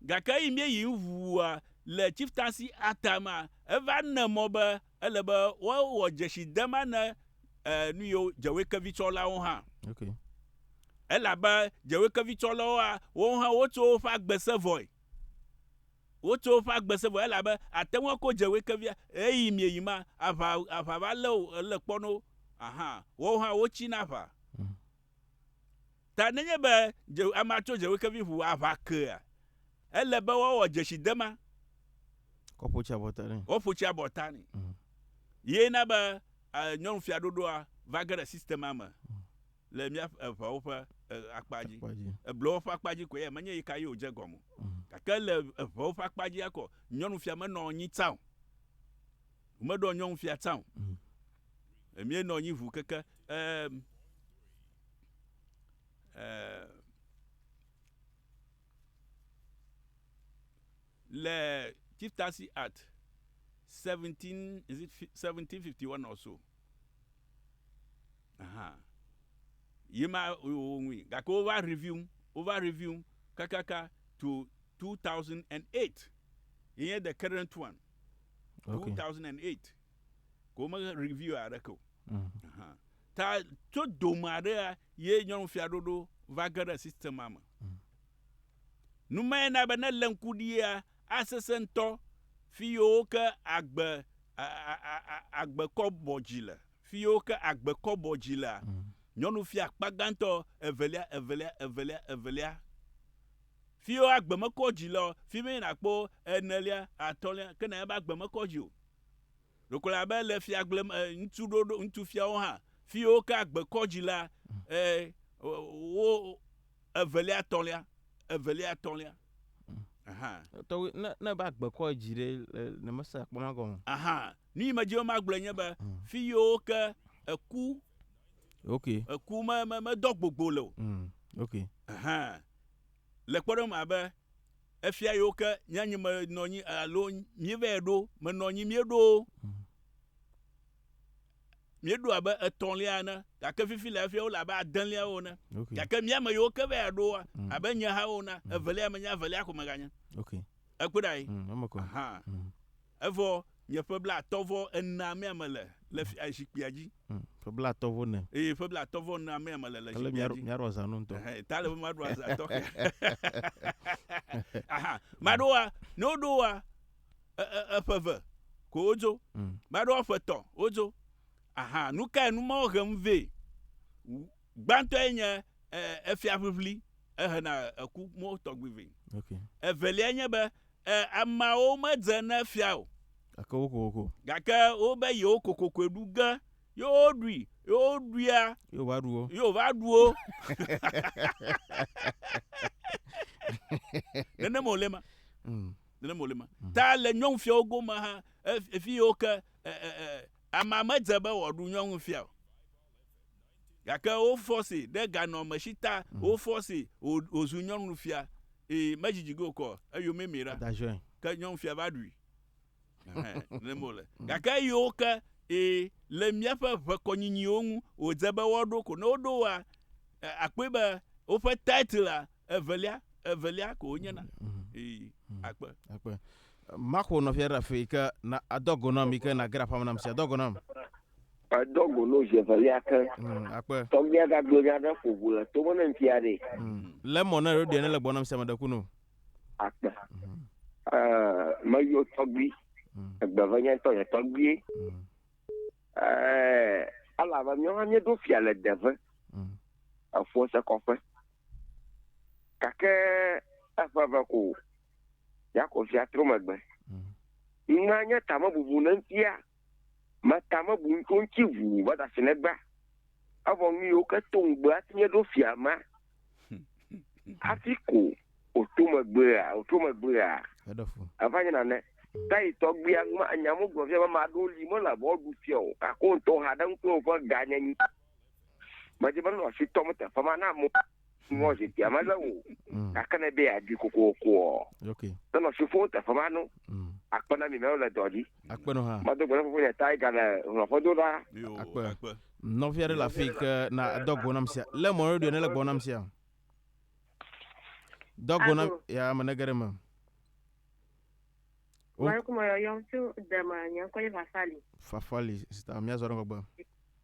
Gake eyi míeyi ŋu wua, le Chieftaincy Acta mea, eva ne mɔ be Ele be woawɔ dzesi de ma ne eh, nu yiwo dzewekevitsɔlawo hã. Okay. Elabe dzewekevitsɔlawo a, wowo hã wotso woƒe agbe se vɔe. Wotso woƒe agbe se vɔe elabe àte ŋu ako dzewekevia eyi mieyi ma aʋa aʋa va lé o ele kpɔ no. Aha, wowo hã wotsi na aʋa. Ta nenye be amea tso dzewekevi ŋu aʋa kea, ele be woawɔ dzesidema. Woƒo tsi abɔta nɛ. Woƒo tsi abɔta nɛ. Mm. Ye na be nyɔnu fiaɖoɖoa va ge ɖe sistema me mm. le mía eŋewo ƒe akpa dzi. Eblewo ƒe akpa dzi ko ya menye yi ka ye wòdze gɔme. Mm. Gake le eŋewo ƒe akpa dzi akɔ nyɔnu fia menɔ anyi tsã o. Meɖɔ nyɔnu fia tsã o. Emie nɔ anyi ʋu keke. Ehm. Le Chief Taxi Act 17, is it 1751 or so? Aha. Ye ma wowɔ ŋui. Gake wova review, wova review kakaka to 2008. Ye nye the current one. Okay. 2008. Ko wome review aɖeke o. Mm. Aha. Ta tso dome aɖea ye nyɔnufiaɖoɖo va ge ɖe sistema me. Nu mae na be ne lé ŋku ɖia, asesẽ ŋutɔ fi yiwo ke agbe agbe kɔ bɔ dzi le. Fi yiwo ke agbe kɔ bɔ dzi lea, nyɔnufia akpa gãtɔ, evelia, evelia, evelia, evelia. Fi yiwo agbe mekɔ dzi lea, fi mee nàkpɔ enelia, atɔ̃lia, ke ne ebe agbe mekɔ dzi o. Ɖokola abe le fiagble me ŋutsu ɖoɖo ŋutsu fiawo hã fiwo ke agbe kɔ dzi la e wo evelia etɔlia evelia etɔlia aha. Tɔgbe ne ne ba agbe kɔ dzi ɖe ne mese akpɔ ma gɔme. Aha nu yi me dzi ma gblɔ nye be mm. fi yiwo ke eku ok eku me me me dɔ gbogbo le o mm. ok aha le kpɔɖeŋu abe Efia yewo ke nye anyi menɔ anyi alo míevɛ ɖo menɔ anyi míeɖo míeɖo abe etɔ̃lia ene gake fifi le efia wole abe adelia wo ene okay. gake mía me yewo ke vɛ ɖo mm. abe nye ha wo na mm. evelia menye avelia ko meganye okay. ekpɔ ɖa yi mm. Evɔ nye ƒe blatɔ̃ vɔ enea mea mele le fia zikpuia dzi. Hm, ƒe blatɔ̃ vɔ ne. Eye ƒe blatɔ̃ vɔ enea mea mele le zikpuia dzi. Mia ɖo zanu ŋutɔ. Ehe, ta le be ma ɖo azã tɔxɛ. Aha, ma ɖo wa, ne wo ɖo wa, eƒe ve, ko wo dzo. Hm. Ma ɖo wa ƒe tɔ, wo dzo. Aha, nu kae nu mawo hem vɛ? Gbãtɔ ye nye efia ʋiʋli, ehena eku mɔ tɔgbi vɛ. Ok. Evelia nye be, E, ameawo medze ne fia o. Gake wo kokoko. Gake wobe yewo kokokoe ɖu ge, ye woɖui, ye woɖuia. Ye wova ɖu wo. Ye wova ɖu wo. Nenema wòle ma. Mm. Nenema wòle ma. Mm. Ta le nyɔnufiawo gome hã, e, fi yiwo ke e, e, e, amea medze be wòaɖu nyɔnufia o. Gake wofɔsee ɖe ganɔamesi ta, wofɔsee wò, wòzu nyɔnufia. Ee, medzidzi ge wòkɔ o, eyomee mie ɖa. Ke nyɔnufia va ɖui. Ɛhɛ, nenema wòle. Gake eyiwo ke, ee, le míaƒe ʋekɔnyinyiwo ŋu, wòdze be woaɖo ko. Ne woɖo woa, e, akpɔe be woƒe titlea, evelia, evelia ko wonye na. Ee, akpe. Akpe. Maxo nɔvia ɖe afii, ke na, adɔ go nam yi ke nageɖe aƒea me nam sia. Dɔ go nam. Edɔ go no zi evelia ke. Mm, akpe. Tɔgbia gagblɔ nya ɖe ƒo ʋu le to me ne ŋuti ya ɖe. Mm. Le mɔ ne ɖoɖia ne le gbɔna sia me ɖe kunu. Akpe. Mm. Uh, me yo tɔgbi. Mm. Egbe ve nya tɔ ye tɔgbie. Mm. Uh, ala ve myo ha mye do fia le deve. Mm. Efo se kɔƒe. Kake eƒe ve ko. Yako fia tro megbe. Mm. Ŋa nye tame bubu ne ŋutia. Meta me bu ŋutsu ŋuti ʋuu va da asi legba. Evɔ nu yiwo ke to ŋugbe hafi míeɖo fia ma. Hafi ko wòto megbea, wòtro megbea, eva nye nane. Tayi tɔgbuia ŋma, nya mí gblɔ fia be ame aɖewo li mele abe woaɖu fia o, gake wo ŋutɔ hã ɖe ŋkɔe woƒe ga nye nyi. Medze be nɔ asi tɔm teƒe ma na mo nɔ zikpuia me lé o. Mm. Gake ne be yeaɖui kokokoɔ, Okay. ne nɔ asi ƒom teƒe ma no, Mm. akpe na mi mɛwo le dɔ dzi. Akpe nɔ hã. Medo gbe na fofonye Tiger le hlɔ̃ƒedo ɖa. Yo, Akpe. akpe. Nɔvi aɖe le afii ke na edɔ go nam sia. Lé mɔ radio ne le gbɔ nam sia. Dɔ go nam Alo. ya ame ne ge ɖe me. O- Malekum yɔyɔm tso dema nye ŋkɔ nye Vafali. Fafali sista míazɔ ɖe ŋgɔgbe.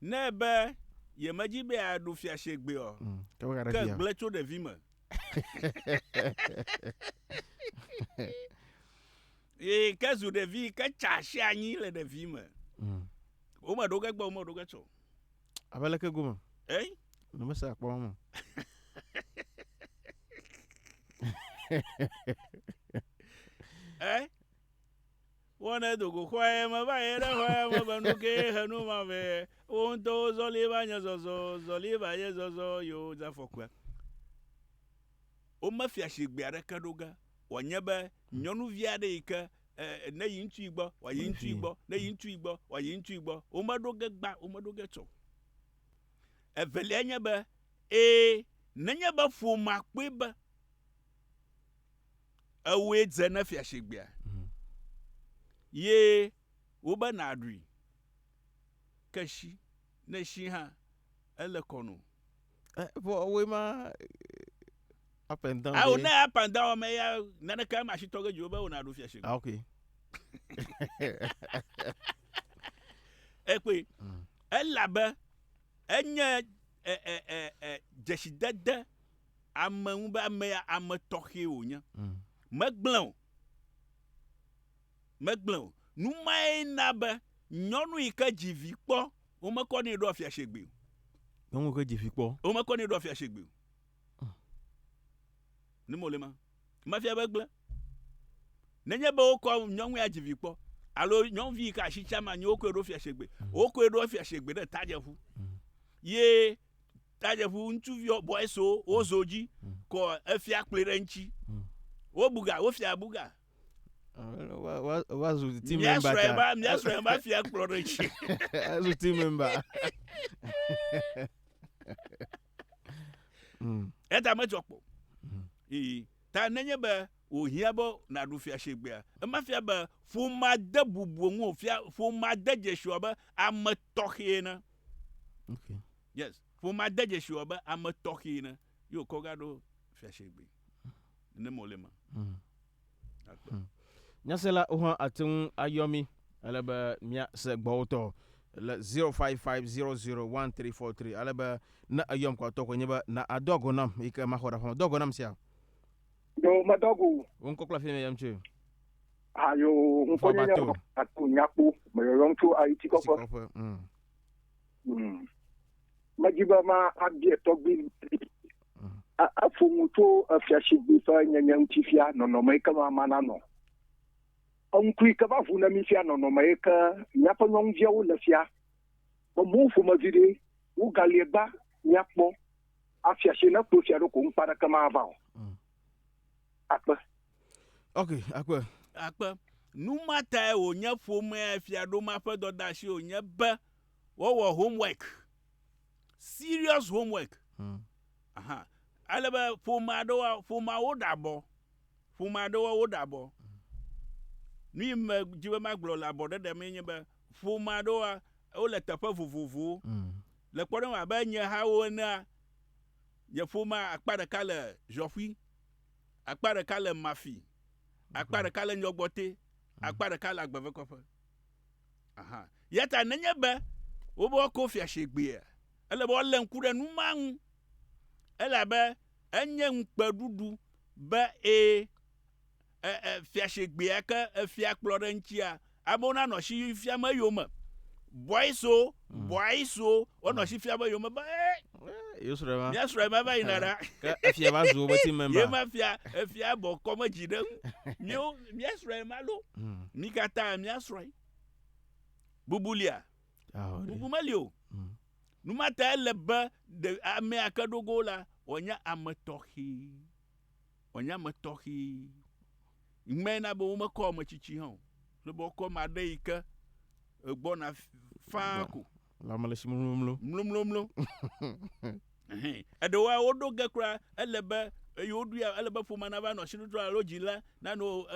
Ne be yemedzi be yeaɖu fia shigbe o, Mm, ke be gaɖe ke fia. gblẽ tso ɖevi me. Eye ke zu ɖevi, ke tsa asi anyi le ɖevi me. Mm. Womeɖo ge gbe, womeɖo ge tsɔ. Abe leke gome? Eh? Ne mese akpɔ mɔ. Eh? Wo ne dogo xɔe me va ye ɖe xɔe me be nu ke he nu ma vɛ. Wo ŋutɔwo zɔli va nye zɔzɔ, zɔli va ye zɔzɔ yo dze afɔkua. Wo me fia shigbe aɖeke ɖo ge. Wɔ nye be nyɔnuvi aɖe yi ke e, ne yi ŋutsu yi gbɔ, wɔ yi ŋutsu yi gbɔ, ne yi ŋutsu yi gbɔ, wɔ yi ŋutsu yi gbɔ. Wo me ɖo ge gba, wo me ɖo ge tsɔ. Evelia nye be, e, nenye be ƒomea kpɔe be Ewòe dze ne fiashegbea, mm. ye wobe nàɖui. Ke si ne si hã ele kɔ no. Eh, vɔ woe ma up and down. Awo ne up and down me ya naneke ama si tɔge dziwo be wona ɖo fia shigbe. Ah, okay. Ekpe. Mm. Elabe enye e e e e dzesidede ame ŋu be ame ya ame tɔxɛ wònye. Mm. Megblẽ o. Megblẽ o. Nu mae na be nyɔnu yi ke dzi vi kpɔ, womekɔ nɛ ɖo afiase gbe o. Nyɔnu ke dzi vi kpɔ. Womekɔ nɛ ɖo afiase gbe o. Mm. Ne mo le ma. Mafia be gblẽ. Nenye be wokɔ nyɔnu ya dzi vi kpɔ, alo nyɔnuvi yi ke asi tsam anyi wokɔe ɖo afiase gbe, mm. wokɔe ɖo afiase gbe ɖe tajeƒu. Mm. Ye tajeƒu ŋutsuviwo bɔɛsiwo wozo dzi mm. kɔ efia kpli ɖe ŋtsi mm. wobuga wofia buga wazu ti memba ta miasrɔe ba fia kplɔ ɖe ŋtsi azu ti memba eta medzɔ kpɔ ii ta nenye be wòhiã be nàɖu fiasegbea ema fia be ƒomea de bubu ŋu o fia ƒomea de dzesi wɔ be ame tɔxɛ ene Okay. Yes. Ƒomea de dzesi wɔ be ame tɔxee ne ye wòkɔ ga ɖo fiasegbe. Ne mɔ le eme. Mm. Akpe. Mm. Nyasela wo hã ate ŋu ayɔ mí. Ele be míase gbɔwotɔ le 05500134 ale be ne eyɔm kɔ atɔ koe nye be na adɔ ago nam yi ke maxɔ ɖe aƒeme. Do ago nam sia? Do medo ago. Wo ŋkɔ kple afi me yɔm tsoe. Ayo ŋkɔnyenye Xɔbato. ato nyakpo meyɔyɔm tso ayiti kɔƒe Sikɔƒe. Mm. Mm. medi be ma abia tɔgbi Mm. A- efo nu tso efiasigbe ƒe nyenye ŋuti fia nɔnɔme yi ke ma ma nanɔ eŋku yi ke va ʋu ne mi fia nɔnɔme yi ke míaƒe nyɔnuviawo le fia be mo ƒomevi ɖe wogalie gba míakpɔ afiasi ne kpo fia ɖo ko ŋkpa ɖeke mava o Mm. akpe Ok, akpe. Akpe. Nu ma tae wònye ƒomea fiaɖoma ƒe dɔdeasi wònye be wowɔ homework. Serious homework. Hmm. Aha. Ale be ƒomea ɖewo, ƒomea woɖe abɔ. Ƒomea ɖewo woɖe abɔ. Nu yi me dzi be magblɔ le abɔ ɖeɖe mee nye be ƒomea ɖewo wole teƒe vovovowo. Hmm. Le kpɔɖeŋu abe nye hawo enea, nye ƒomea akpa ɖeka le Ʒɔƒui. Akpa ɖeka le Mafi, akpa ɖeka le Nyɔgbɔte, akpa ɖeka le Agbevekɔƒe. Aha. Ya ta nenye be wobe woako fia shegbea, ele be woalé ŋku ɖe nu ma ŋu, elabe enye ŋukpeɖuɖu be ẽ, e, e, fia shegbea ke efia kplɔ ɖe eŋutia, Amewo na nɔ si fiam eyome. Bɔiso, hmm. bɔiso, wonɔ hmm. si fiam eyome be ee. Eh, Yosrɔe ma. Míasrɔe ma va yina ɖa. Ke efia va zu wobe ti mɛmba. Ye ma fia, efia bɔ kɔme dzi ɖe ŋu. Míwo, míasrɔe ma ɖo. Hmm. Mi katã míasrɔe. Bubulia. Bubu meli o. Numata ele be amea ke ɖogo la wòanye ame tɔxɛ. wòanye ame tɔxɛ. Ŋmee na be womekɔ ame tsitsi hã o, ale be wokɔ ame aɖe yi ke gbɔna faa ko. Le ame le si mlomlomlo. Mlomlomlo. Eɖewoa woɖo ge kura ele be eye woɖoe ele be ƒome nava nɔ asitotro alo dzila nanɔ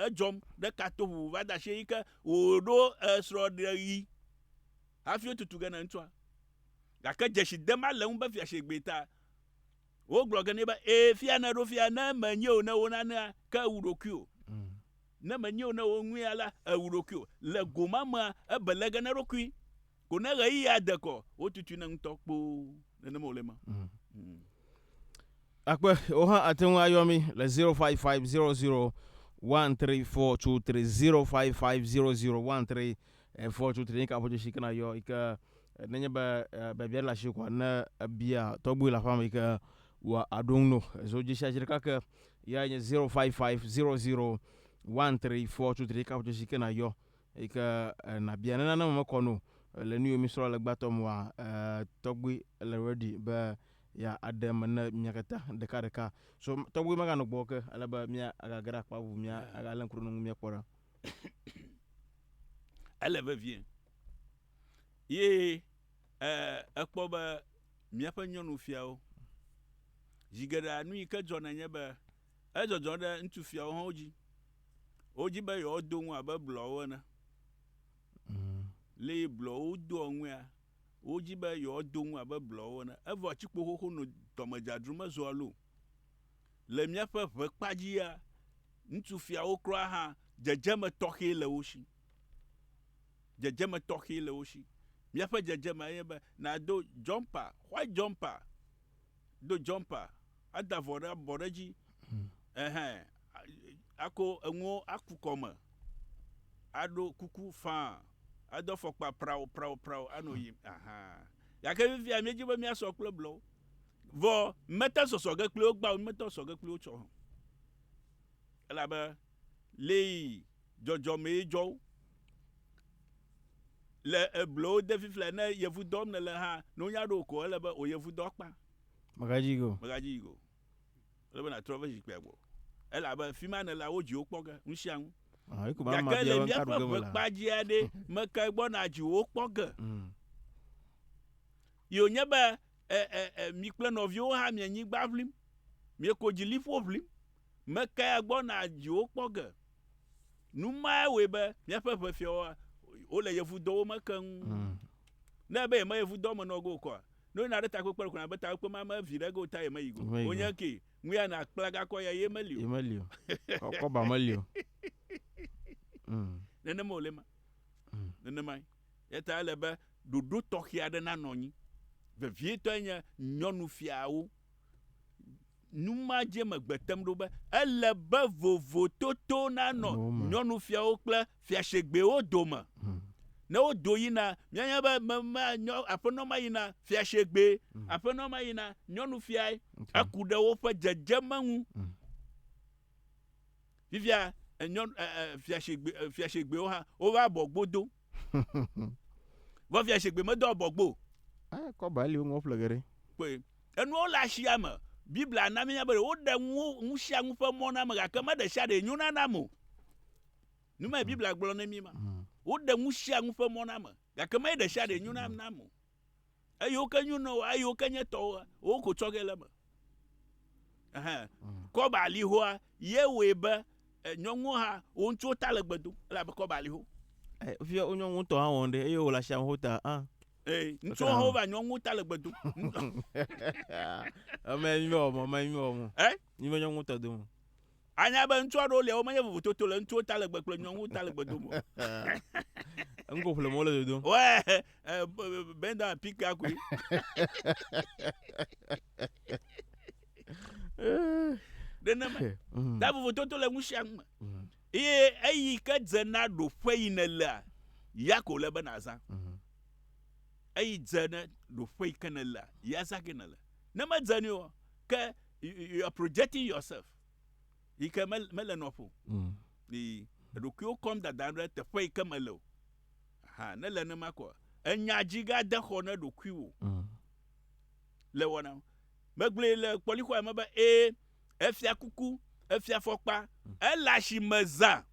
edzɔm ɖe kato ʋuʋu va de asie yi ke wòɖo srɔ̃ɖeɣi hafi wotutu ge na ŋutsua. Gake dzesi dem ale ŋu be fiasegbee ta Wogblɔ ge nɛ be, Ee, fia nèɖo fia, ne menyee o, ne wonanea, ke èwu ɖokuiwò. Ne menyee o, ne woŋuia la, èwu ɖokuiwò. Le go ma mea, ebe le ge na eɖokui. Ko ne ɣeyiɣia de kɔ, wotutui nɛ ŋutɔ kpoo. Nenema wòle ema. Akpe, wò hã àte ŋu ayɔ mí le zero five five zero zero one three four two three zero five five zero zero one three Efɔ tso Trinidad ƒe dzesi ke na yɔ yi ke nenye be biabia le asi kɔa ne ebia tɔgbu le aƒea me yi ke wɔ aɖo ŋu no. Zo dzesi asi ɖeka ke ya nye 055001342 tso Trinidad ƒe dzesi ke na yɔ yi ke na bia ne nane me mekɔ no le nu yi mi srɔ̃ le gbãtɔ mɔa tɔgbu le ready be ya aɖe me ne mia katã ɖeka ɖeka. So tɔgbu mega nɔ gbɔ ke ale be mia aga ge ɖe akpa bubu mia aga le ŋku ɖe nu mia kpɔ ɖa. ele vevie ye ekpɔ be míaƒe nyɔnufiawo zi geɖea nu yi ke dzɔna nye be edzɔdzɔ ɖe ŋutsufiawo hã dzi wodzi be yewoado ŋu abe blɔwo ene mm. le blɔwo doa ŋua wodzi be yewoado ŋu abe blɔwo ene evɔ atsikpo xoxo no dɔmedzadru mezɔa lo le míaƒe ʋe kpa dzia Ŋutsu fiawo kura hã, dzedzeme tɔxɛ le wo si. Dzedzeme tɔxɛ le wo si. Míaƒe dzedzemea enye be nàdo jɔmpa, white jɔmpa, do jɔmpa, ada avɔ ɖe abɔ ɖe edzi, ɛhɛ, ako enuwo aku kɔme, aɖo kuku faa, ado afɔkpa prao, prao, prao anɔ yiyim, aha. Gake fifia míedi be míasɔ kple blɔwo. Vɔ mete sɔsɔ ge kpli wo gbã o, mete sɔ ge kpli wo tsɔ o. Elabe lee dzɔdzɔ mee dzɔ wo. Le eblo wo de fiflɛ ne yevu dɔm ne le ha no nya ɖo ko ele be o yevu dɔ kpa. Megadzi go. Megadzi go. Ele be na trɔ ve zikpia gbɔ. Elabe fima ne la wo dzi wo kpɔ ge nu sia nu. Ah, eko ba ma bia be nka ɖu ge me la. Kpa dzi aɖe me ke gbɔ na dzi wo kpɔ ge. Mm. Yo nye be E, e, e, mi kple nɔviwo hã mi anyigba ʋlim, mieko dzi liƒo ʋlim, mekae agbɔna dziwo kpɔ ge? Nu mae wɔe be míaƒe ʋefiawoa, wole yevudɔwo me keŋ. Mm. Ne ebe yeme yevudɔ me nɔ ge wokɔa, ne woyina ɖe takpekpe ɖe kɔna be takpekpe ma me vi ɖe ge wota yemeyi go. Wonye ke, ŋu ya na kpla gakɔ ya ye meli o. Ye meli o. Kɔba meli o. Mm. Nenema wòle ma. Mm. Nenemae. Eya ta ele be ɖoɖo tɔxɛ aɖe nanɔ anyi. Vevietɔe nye nyɔnufiawo. Nu ma dzie megbe tem ɖo be ele be vovototo nanɔ nyɔnufiawo kple fiasegbewo dome. Hmm. Ne wodo yina, míanya be me, me, nyɔ, aƒenɔ ma yina fiasegbe, hmm. aƒenɔ ma yina nyɔnufiae. Eku ɖe woƒe dzedzeme ŋu. Hmm. Fifia nyɔnu ɛɛ fia shigbe fia shigbewo hã wova abɔ gbo do. Vɔ fia shigbe medo abɔ gbo. Ɛ kɔ ba li woŋlɔ ƒle geɖe. Kpɔe. Enuawo le ashia me. Biblia na míenya be woɖe nuwo nusianu ƒe mɔ na ame gake me ɖe sia ɖee nyo na nam o. Nu mae Biblia gblɔ ne mí ma. Woɖe nusianu ƒe mɔ na ame gake me ɖe sia ɖee nyo na nam o. eyiwo ke nyo nɔwo eyiwo ke nye tɔwo wo ko tsɔ ge le me ɛhɛn mm. kɔba alihoa ye wɔe be eh, nyɔnuwo hã wo ŋutsuwo ta le gbe dom elabe kɔba aliho eh, fia wo nyɔnu ŋutɔ hã wɔn ɖe eye wòle asi amewo ta hã eh, ŋutsuwo hã wova nyɔnuwo ta le gbe dom eme nyume wɔmɔ eme nyume wɔmɔ nyume nyɔnu ŋutɔ dom Anya be ŋutsu aɖewo lia wo menye vovototo le ŋutsuwo ta legbe kple nyɔnuwo ta legbe dome o. Ŋgo ƒle mo le dodo. Ouais, eh, b- b- bend down and pick that quick. Nenema. Mhm. Ta vovototo le ŋusia ŋu me. Mhm. Eye eyi ke dze na ɖoƒe yi nèlea, ya ko le be nàzã. Mhm. Eyi dze ne ɖoƒe yi ke nèlea, ya zã ke nèle. Ne medze nɛ o, ke you are projecting yourself yi ke mele nɔƒo mm. yi eɖokuiwo kɔm dada ɖe teƒe yi ke mele o ha ne le ne ma kɔ enya dzi ga de xɔ ne ɖokui wo mm. le wɔna megblẽ le kpɔlixɔa me be ee efia kuku efia fɔkpa mm. ele asi me zã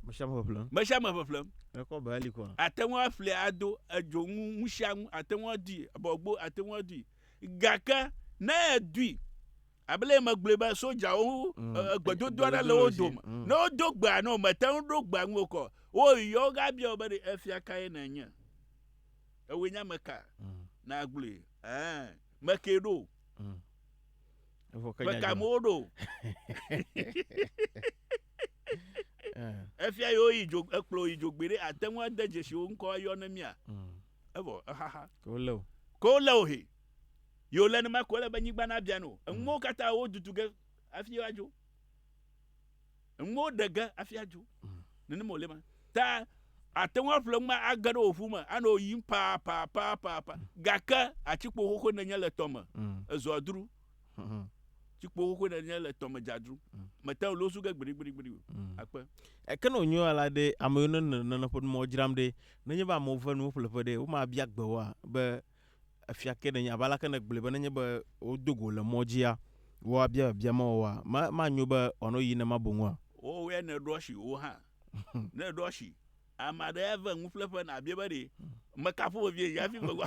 mesia me ƒeƒlem mesia me ƒeƒlem ekɔ be ali kɔ ate ŋu aƒle ado edzonu ŋusia ŋu ate ŋu adi bɔgbo ate ŋu adi Gake ne èdoe abe le megblɔe be sodzawo mm. eh, eh, gbedodo aɖe le wo dome mm. ne wodo gbea ne womete ŋu ɖo gbea ŋu kɔ woyɔ wogabia be ɖe efia kae nènye ewoe nye ame ka mm. na gblɔe meke ɖo meka mo ɖo eh. efia yewo yi dzo ekplɔ yi dzogbe ɖe ate ŋu ade dzesi wo ŋkɔ ayɔ ne mia. Mm. Evo ehaha. Ko le o. Ko le o he. Yo le nima ko le be nyigba na bia no. Enwo mm. kata wo dutu ge afi wa jo. Enwo de ge afi ajo. Mm. Nene mo le ma. Ta ate ŋu aƒle ŋu age ɖe oƒu me anɔ yim paa paa paa paa paa gake atikpo xoxo nenye le tɔme mm. ezɔa dru Tsi kpo xoxoe ɖe nye le tɔme dzadru. Mm. Mete ŋu losu ge gbiɖigbiɖigbiɖi o. Mm. Akpe. Eke ne wònyo ya la ɖe, ame yiwo ne le nane ƒe numawo dzram ɖe, nenye be amewo ve nuwo ƒleƒe ɖe, womabia gbe woa? Be, Efia ke nènye? Abe aleke nègblɔe be nenye be wodo go wò le mɔ dzia, woabia biabia ma woa? Ma, manyo be wòanɔ ɣeyiɣi nenema boŋ oa? Wowɔe ne èɖo asi wò hã. Ne èɖo asi ame aɖe eve nuƒleƒe, nàbiae be, Ɖe mekafu vevie yi hafi megua?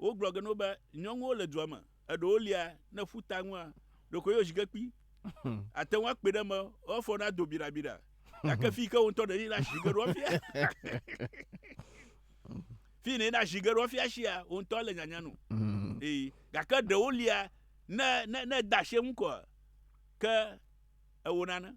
Wogblɔ ge na wo be, Nyɔnuwo le dua me, eɖewo lia ne ƒuta ŋua ɖeko ye wozi ge kpi. Àte ŋu akpɔe ɖe eme wo afɔ nado biɖabiɖa, gake fii ke wò ŋutɔ nèyi ɖe azi ge ɖo afia. Fii nèyi ɖe azi ge ɖo afia sia, wò ŋutɔ le nyanya nu. Ee, gake ɖewo lia ne, ne, ne èda asi eŋu koa, ke ewɔ nane.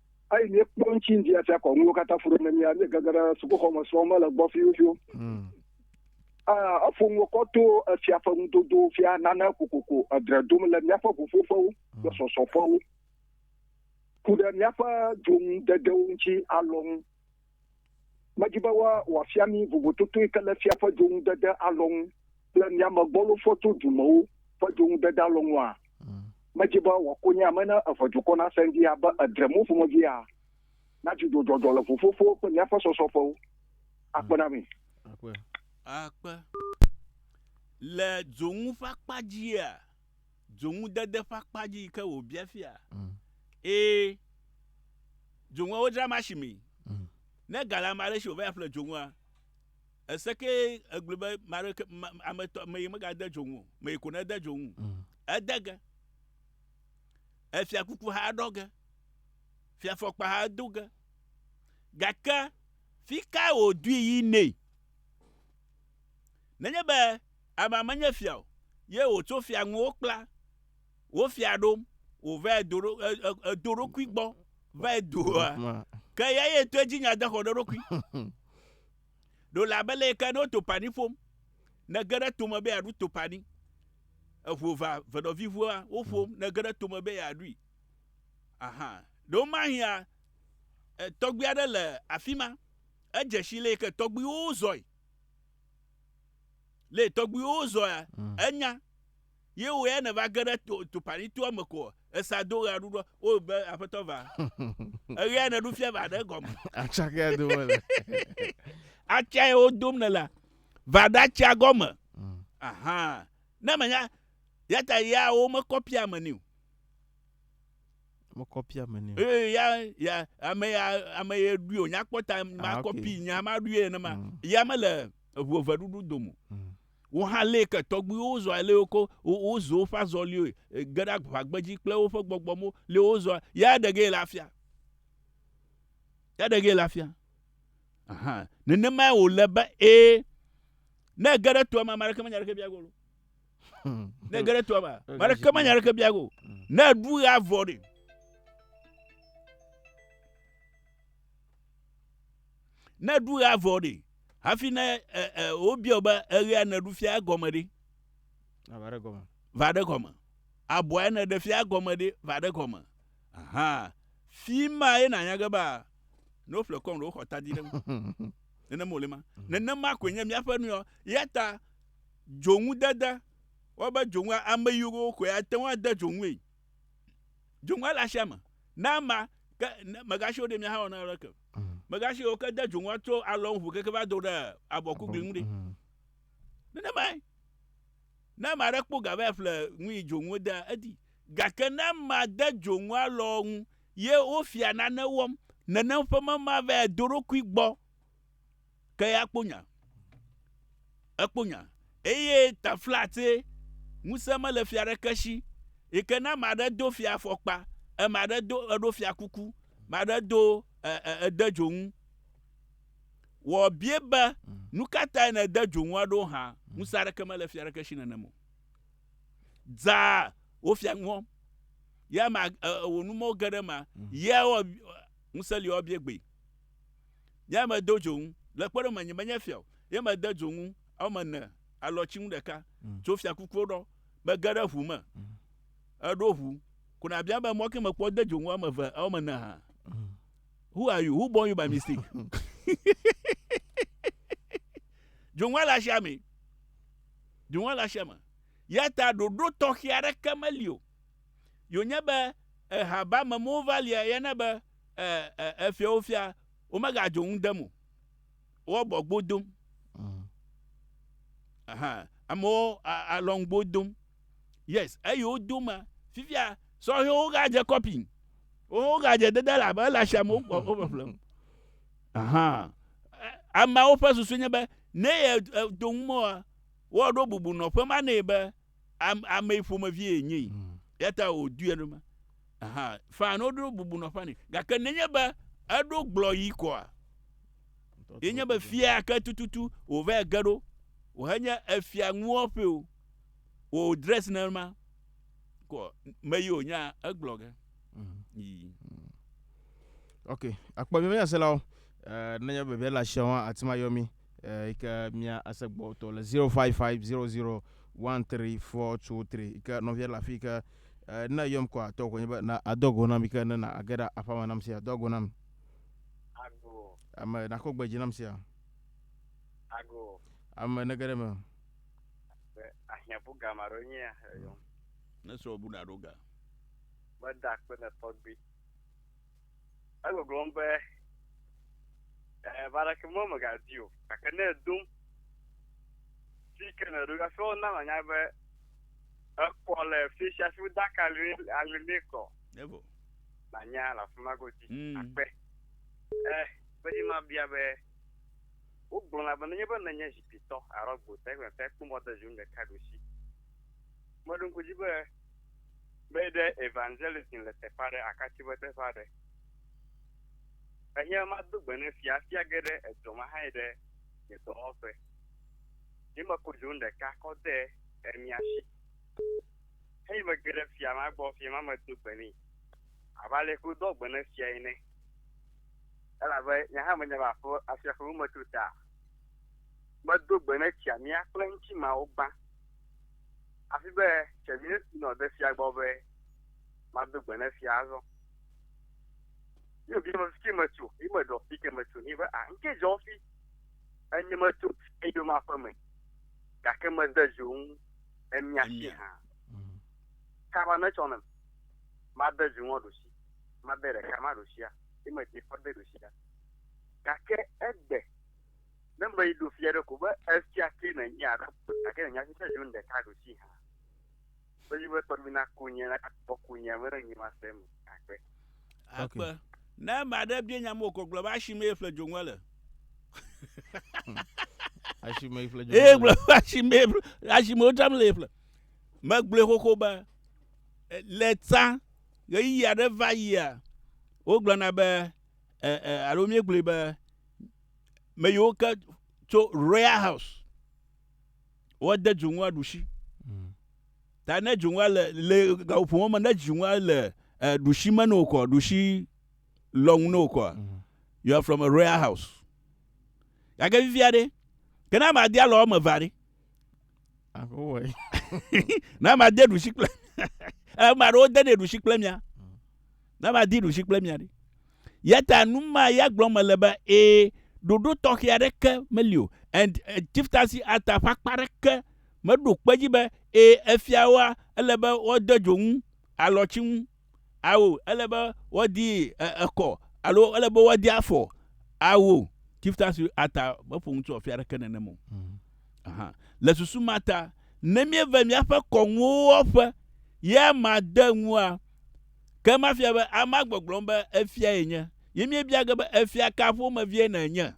eyi míekpɔ ŋutsi ŋdi afia kɔ nuwo katã fu ɖe ne mía míegege ɖe sukuxɔ me srɔ̃ mele gbɔ fiwufiwu hmm. ah, efo nuwo kɔ to efia ƒe nudodo fia nane kokoko edre dom le míaƒe ʋuƒoƒewo kple hmm. sɔsɔƒewo ku ɖe míaƒe dzonudedewo ŋutsi alɔ ŋu Medi be wòafia mí vovototoe ke le fia ƒe dzoŋudede alɔnu kple míame gbɔlofɔ tso dumewo ƒe dzoŋudede alɔnua? Mm. Medi be wòakonye ame ne eʋe dukɔ nasẽ ɖi abe edre mo ƒomevia, na dzidzɔdzɔdzɔ le ƒuƒoƒo kple míaƒe sɔsɔƒewo. Akpe na mi. Akpe. Akpe. Le dzoŋu ƒe akpa dzia, dzoŋudede ƒe akpa dzi yi ke wòbia fia. Mm. Ee, dzoŋua wodzra masimi. Mm. Ne ga le ame aɖe si wòva ya ƒle dzoŋua, ese ke egblɔ be mare ke ame tɔ me yi megade dzoŋu o, me yi ko nede dzoŋu. Mm. Ede ge. Efia kuku hã ɖɔ ge. Fia fɔkpa hã do ge. Gake fi ka wòdui yi nɛ? Nenye be amea menye fia o, ye wòtso fia ŋu wokpla wò fia ɖom wòva edo ɖo- e- e- edo ɖokui gbɔ va eduoa, Ma. ke eya ye to edzi nya dexɔ ɖe eɖokui. Ɖo le abe leyike ne wo topani ƒom, nège ɖe tome be yeaɖu topani, eŋu eva veɖɔviʋua woƒom, nège ɖe tome be yeaɖui. Aha, ɖewo mahia, e, tɔgbui aɖe le afi ma, edze si leyike tɔgbuiwo zɔe. Le tɔgbuiwo zɔa mm. enya ye wo ya ne va ge ɖe topanitoa me ko esa do ɣe aɖuɖɔ wo be aƒetɔ va eɣe ya ne ɖu fia va ɖe gɔme atsake ya dome le atsia ye wo dom ne la va ɖe atsia gɔme mm. aha ne menya ya ta ya wo mekɔ pia me ni o Me kɔpia me ne. Ee ya ya ame ya ame ye ɖui o nya kpɔta ma ah, kɔpi nya ma ɖui ene ma mm. ya me le eʋu eve ɖuɖu domo. Mm. Wo hã lé ke tɔgbuiwo zɔ lé wo ko wo zo woƒe azɔliwo e, ge ɖe agbadzi kple woƒe gbɔgbɔmo lé wo zɔ ya ɖe ge le afia. Ya ɖe ge le afia. Aha nenema wo le be e ne ge ɖe toa ma ma ɖeke menya ɖeke bia golo. ne ge ɖe toa me ame aɖeke menya aɖeke bia go ne eɖu ɣe avɔ ɖi ne eɖu ɣe avɔ ɖi hafi ne wobia be eɣea ne ɖu fia egɔme ɖi va ɖe gɔme va ɖe gɔme abɔa ne ɖe fia egɔme ɖi va ɖe gɔme aha fi ma ye nanya ge ba ne woƒle kɔm ɖe woxɔ tadi ɖe nenema wòle ma nenema koe nye míaƒe nuyɔ ya ta Dzoŋudede, Wɔ be dzoŋua, ame yi wo xɔe ate ŋu ade dzoŋue. Dzoŋua le asia me. Na ama, ke ne mègasi o ɖe mia hã wɔ na aleke. Mègasi o ke de dzoŋua tso alɔ ŋu keke va do ɖe abɔkugli ŋu ɖi. Nenemae. Ne ame aɖe kpɔ ga va ƒle nu yi dzoŋu wodea, edi. Gake ne ama de dzoŋu alɔ ŋu ye wofia nane wɔm, nenem ƒe mema va do eɖokui gbɔ. ke ya kpo nya. Ekpo nya. Eye taflatse, ŋusẽ mele fia aɖeke si, yi ke ne ame aɖe do fiafɔkpa, ame aɖe do, eɖo fiakuku, ame aɖe do e, e, ede dzonu, wɔ bie be, Nu ka tae nède dzonu aɖewo hã? Ŋusẽ aɖeke mele fia aɖeke si nenem o. Dzaa, wò fia nu wɔm. Ye ame, e, wò numɔwo ge ɖe ema. Ye wɔ, ŋusẽ li wɔ bie gbee. Nyea medo dzo ŋu. Le kpɔɖeŋu me, nyemenye fia o, ye mede dzo ŋu eme ne alɔtsinu ɖeka mm. tso fiakukuwo ɖɔ. Mege ɖe ʋu me. Mm. Eɖo ʋu. Ko nabia be mɔ ke mekpɔ de dzo ŋu eme eve, eme ne hã. Mm. Who are you? Who born you by mistake? Dzoŋua le asia me. Dzoŋua le asia me. Ya ta ɖoɖo tɔxɛ aɖeke meli o. Yonye be ehaba me mova lia yana be e, e, efiawo fia, womegadzo ŋu dem o. Woabɔgbo dom. Mm. Aha, amewo alɔngbo dom. Yes, eyi wodo ma, fifia sɔhɛwo gadze kɔpi. Wowo gadze dede la be la shame wokpɔ woƒeƒlem. Aha. Ameawo ƒe susu nye be ne ye do ŋu mɔa, woaɖo bubu nɔƒe ma nɛ be am, ame ƒomevie yenye yi mm. ya ta wòdui enuma aha fan woɖo bubu nɔ fani gake nenye be eɖo gblɔ yi kɔa yenye be fia ke tututu wòva ge ɖo wòhenye efia ŋuɔ ƒe o wò dress ne ma kɔ me yi wònya egblɔ ge mm. yi. Mm. ok akpɔ mi meyaselawo eh, nenye bebe le asiawo hã ati ma yɔ mi eh, yi ke mia ase gbɔtɔ le 0550013423 yi ke nɔvia le afi ke eh, ne yɔm kɔ atɔ konye be na adɔ go nam yi ke ne na age ɖe aƒa me nam sia dɔ go nam Ago. ame nakɔ gbe dzi nam sia Ago. ame ne ge ɖe me Be ahiãbu gã ma ɖo nyea eyɔm. Ne srɔ̃ bu na ɖo ga. Meda kpe ne tɔgbui. Egbɔgblɔm be, Ɛɛ, va ɖe ke mɔ mègadi o, gake ne edom fi ke nèɖo hafi wona manya be ekɔ le fi sia fi wode aka li ali nɛ kɔ. Evo. Manya le afi ma godzi mm. akpe. Ɛɛ, be dzi mabia be wogblɔna be nenye be nenye zikpitɔ alo gbotɔ egbe te kpɔ mɔ de zi nu ɖeka ɖusi. Meɖo ŋku dzi be Be ɖe evangelism le teƒe aɖe akatsi be teƒe aɖe. Ehiã mado gbe ne fia fia ge ɖe edɔ ma hãe ɖe nye dɔwɔƒe. Ye meko dzo nu ɖeka kɔ de emia si. Heyi mege ɖe fia ma gbɔ, fia ma medo gbe nɛ. Abe ale ko do gbe ne fia ene. Elabe nye hã menye va ƒe afia ƒe numetso ta. Medo gbe ne tsia mia kple ŋuti mawo gbã. Hafi be, Tse míesi nɔ de fia gbɔ be mado gbe ne fia azɔ. Yi wòbia be, Fike metso? Yi meɖɔ, Fike metso? Yi be, A, ŋke dzɔ fi? Enye metso eyo ma ƒe me, gake mede dzo ŋu emia si hã. Kaba netsɔ nem, made dzo ŋua ɖusi, made ɖeka ma ɖusia, yi mede fɔ de ɖusia. Gake egbe Ne meyi ɖo fia ɖe ko be efia ke nenye aɖo gake nenya fi ke zon ɖeka ɖo si hã. Meyi be tɔgbi na ku nye na kpɔ ku nye me ɖe nyi ma se me akpe. Akpe. Ne ame aɖe bia nya mo ko gblɔ be asi mee ƒle dzoŋua le. Asi mee ƒle dzoŋua. Ee gblɔ be asi mee asi mee wodzram le ƒle. Megblɔe xoxo be le tsã ɣeyiɣi aɖe va yia wogblɔna be e, e, alo míegblɔe be me yiwo ke tso royal house woade dzonua ɖusi mm. ta ne dzonua le le gaƒomɔ me ne dzonua le e, ɖusi me ne wokɔ ɖusi lɔnu ne wokɔ mm. you are from a royal house gake vivia ɖe kena madia lɔ eme va ɖe na made ɖusi kple ame aɖewo denɛ ɖusi kple mia na madi ɖusi kple mia ɖi yata nu ma ya gblɔ mele be ee ɖoɖo tɔxɛ aɖeke meli o and uh, eh, chieftaincy act ƒe akpa aɖeke meɖo kpe dzi be ee efiawoa ele be woade dzo ŋu alɔtsi ŋu Ao, ele be woadi e, ekɔ alo ele be woadi afɔ. Ao, Chief Tasu ata meƒo nu tso afia ɖeke nenem o. Mm. Aha. Le susu ma ta, ne míeve míaƒe kɔnuwo wɔƒe ye ma de ŋua, ke ma fia be ama gbɔgblɔm be efia ye nye. Ye míebia ge be efia ka ƒomevie nènye.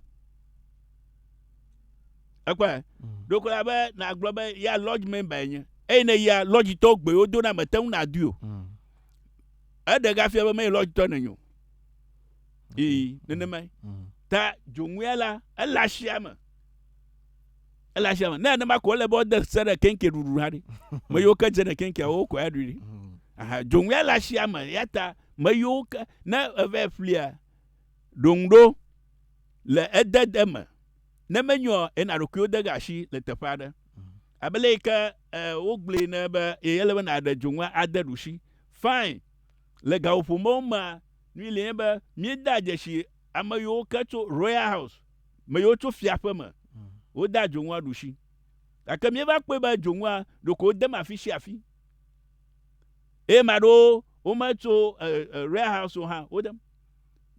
ekpɔe mm. ɖo kola be nàgblɔ be ya lodge member enye eye ne ya lodge tɔ gbewo do na mete ŋu nàdui o mm. eɖe gafia be meyi lodge tɔ nenye o ee nenema mm. ta dzoŋuya la ele asia me ele asia me ne nenema ko ele be ɔde se ɖe kenke ɖuɖu ha ɖi me yiwo ke dze ne kenke wo kɔ ya ɖui ɖi aha dzoŋuya le asia me ya ta me yiwo ke ne eve flia ɖoŋu ɖo. le edede me. Ne menyo ɔ, ena ɖokuiwo de ga asi le teƒe aɖe. Abe le yi ke e, wogblɔe ne be ye ele be nàɖe dzonu ade ɖusi. Fine. Le gaƒoƒomewo mea, nu yi li nye be míeda dzesi ame yiwo ke tso Royal House, me yiwo tso fiaƒe me, wodea dzonua ɖusi. Gake míeva kpɔe be dzonua ɖeko wodem afi sia afi. Eye ame aɖewo wometso e, e, Royal House o hã, wodem.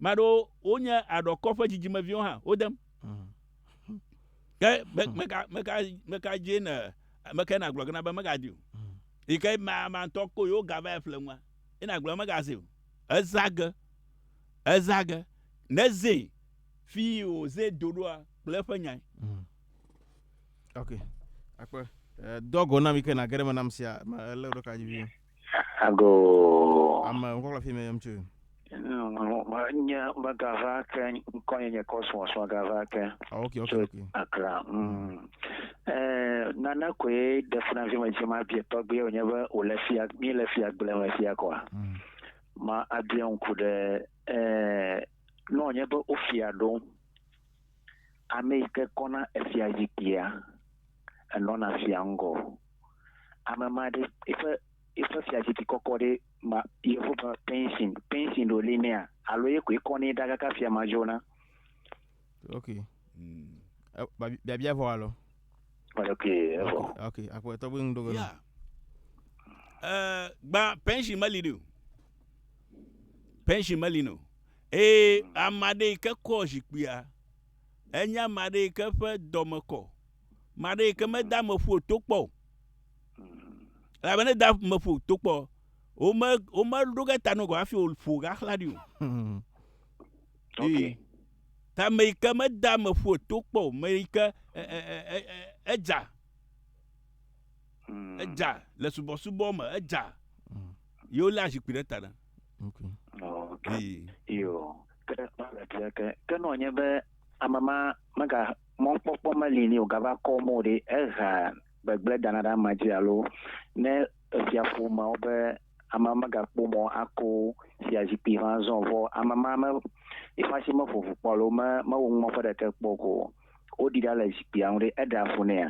Maɖo wonye aɖɔkɔ ƒe dzidzimeviwo hã, wodem. Ke meka meka meka dzi ne meka na gblɔ gena be mega di o. Yi ke ma ma tɔ ko yo ga va ƒle ŋua. Ina gblɔ mega zi o. Ezage. Ezage. Ne zi fi o zi do doa kple ƒe nyai. Mm. Okay. Akpe. Eh, dogo na mi ke na gere me nam sia, ma le ro ka ji Agoo. Ame ŋkɔkla fi me yɔm tsoe. Mm, nye megava ke ŋkɔnye nye Cosmos megava ke. Oh, okay, okay, okay. Akra. Mm. Eh, nana koe de funa fi me dzi ma bie tɔgbe wonye be wo le fia mi le fia gble me fia kwa. Mm. Ma abie ŋku ɖe eh no nye be ofia ɖo. Ame yi ke kɔna efia zikpuia enɔna fia ŋgɔ. Ame ma ɖe eƒe eƒe fiazikpui kɔkɔ ɖe ma yevu be pension pension ɖo li nɛa alo ye koe kɔ nɛ ɖa kaka fia ma dzona. Ok. Mm. Eh, ba- Biabia vɔ alɔ. Ok, evɔ. Ok, akpɔ etɔ gbe ŋu ɖo gbe. Yeah. Eh, gba pension meli ɖi o. Pension meli no. Eye ame aɖe yi ke kɔ zikpuia enye ame aɖe yi ke ƒe dɔme kɔ. ma ɖe yike meda ame ƒu to kpɔ o elabe ne da ame ƒu to kpɔ wome wome ɖo ge ta nogɔ hafi wòƒo gaxla ɖi o hmm. ee ta ame yike meda ame ƒu to kpɔ o ame yike edza hmm. edza le subɔsubɔ me edza hmm. yewo lé azikpui ɖe ta ɖe. Okay. Iyo. Ke ke nɔ nye be ame ma mega Mɔkpɔkpɔ meli nɛ o, gava kɔ mɔ ɖe ehea gbegblẽ dana ɖe amea dzi alo ne efia ƒomeawo be amea megakpɔ mɔ ako fiazikpui ƒe azɔ o. Vɔ ame ma me, eƒe asi meƒo ŋu kpɔ alo me, mewɔ ŋumeƒe ɖeke kpɔ o. Woɖi ɖa le zikpuia ŋu ɖe, eɖea fu nɛa?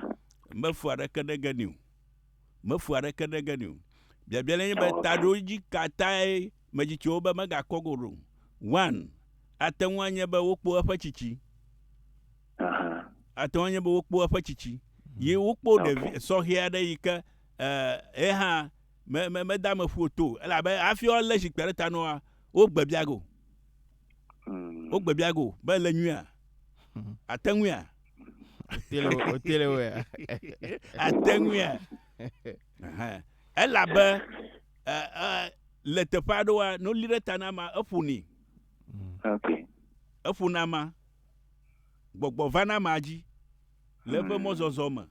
Mefu aɖeke ɖe ge nɛ o. Mefu aɖeke ɖe ge nɛ o. Biabia lae nye be, taɖodzi ka tae medzi tso wo be megakɔ go ɖo. One, Ate ŋu anye be wokpo eƒe tsitsi. Aha. Ate ŋu anye be wokpo eƒe tsitsi. Yi wokpo Okay. ɖevi sɔhɛ aɖe yi ke ɛ, ye hã me, me, mede ame ƒu o to o. Elabe hafi woalé zikpui ɖe ta na woa, wogbe bia ge o. Mm. Wogbe bia ge o be ele nyuia? Ate ŋuia? Wotele wo- wotele woea? Ate ŋuia? Ɛhɛ, elabe ɛ, ɛ, le teƒe aɖewoa, ne woli ɖe ta na ama, eƒonɛ. Ok. Eƒona ama. Gbɔgbɔ vana ama dzi le eƒe mɔzɔzɔ me.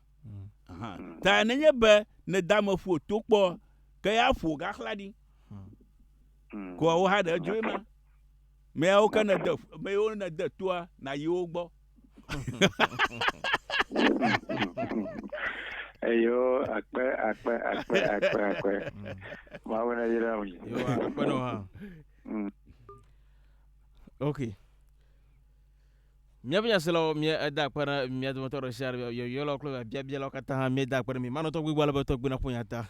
Aha. Ta nenye be nède ame ƒo to kpɔ, ke ya ƒo gaxla ɖi. Mm. Koa wo hã ɖe edzoe ma. Meyawo ke nède, meyawo nède toa, nàyi wo gbɔ. eyo akpe akpe akpe akpe akpe mawu na yira mi akpenɔ hã mm. ok míaƒe nyaselawo mía eda akpe na mía dometɔ ɖe sia ɖe yɔyɔlawo kple biabialawo katã hã míeda akpe na mi manɔ tɔgbi gbɔ ale be tɔgbi naƒo nya ta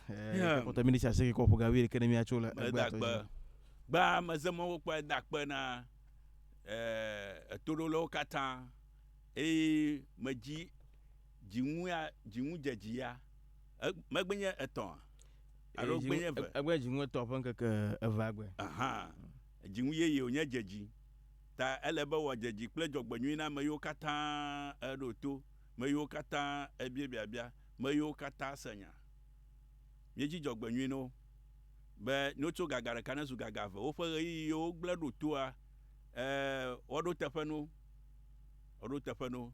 kɔtɔ minitsi aseke kɔ ƒo ga wuiɖeke ne míatso le gbea tɔ dzi gbaa mezemɔwo kpɔe da akpe na etoɖolawo katã eye medzi dziŋu ya, dziŋudzedzi ya. E, megbe nye etɔ̃a? Alo gbe nye eve? Egbe nye dziŋu etɔ̃ ƒe ŋkeke evea gbe. Aha. Dziŋu yeye wònye dzedzi. Ta ele be wòadzedzi kple dzɔgbenyui na ame yiwo katã eɖo to, me yiwo katã ebia biabia, me yiwo katã se nya. Míedzi dzɔgbenyui na wo. be no tso gaga ɖeka ne zu gaga eve. Woƒe ɣeyiɣi yiwo wogblẽ ɖo toa, e, woɖo teƒe no. Woɖo teƒe no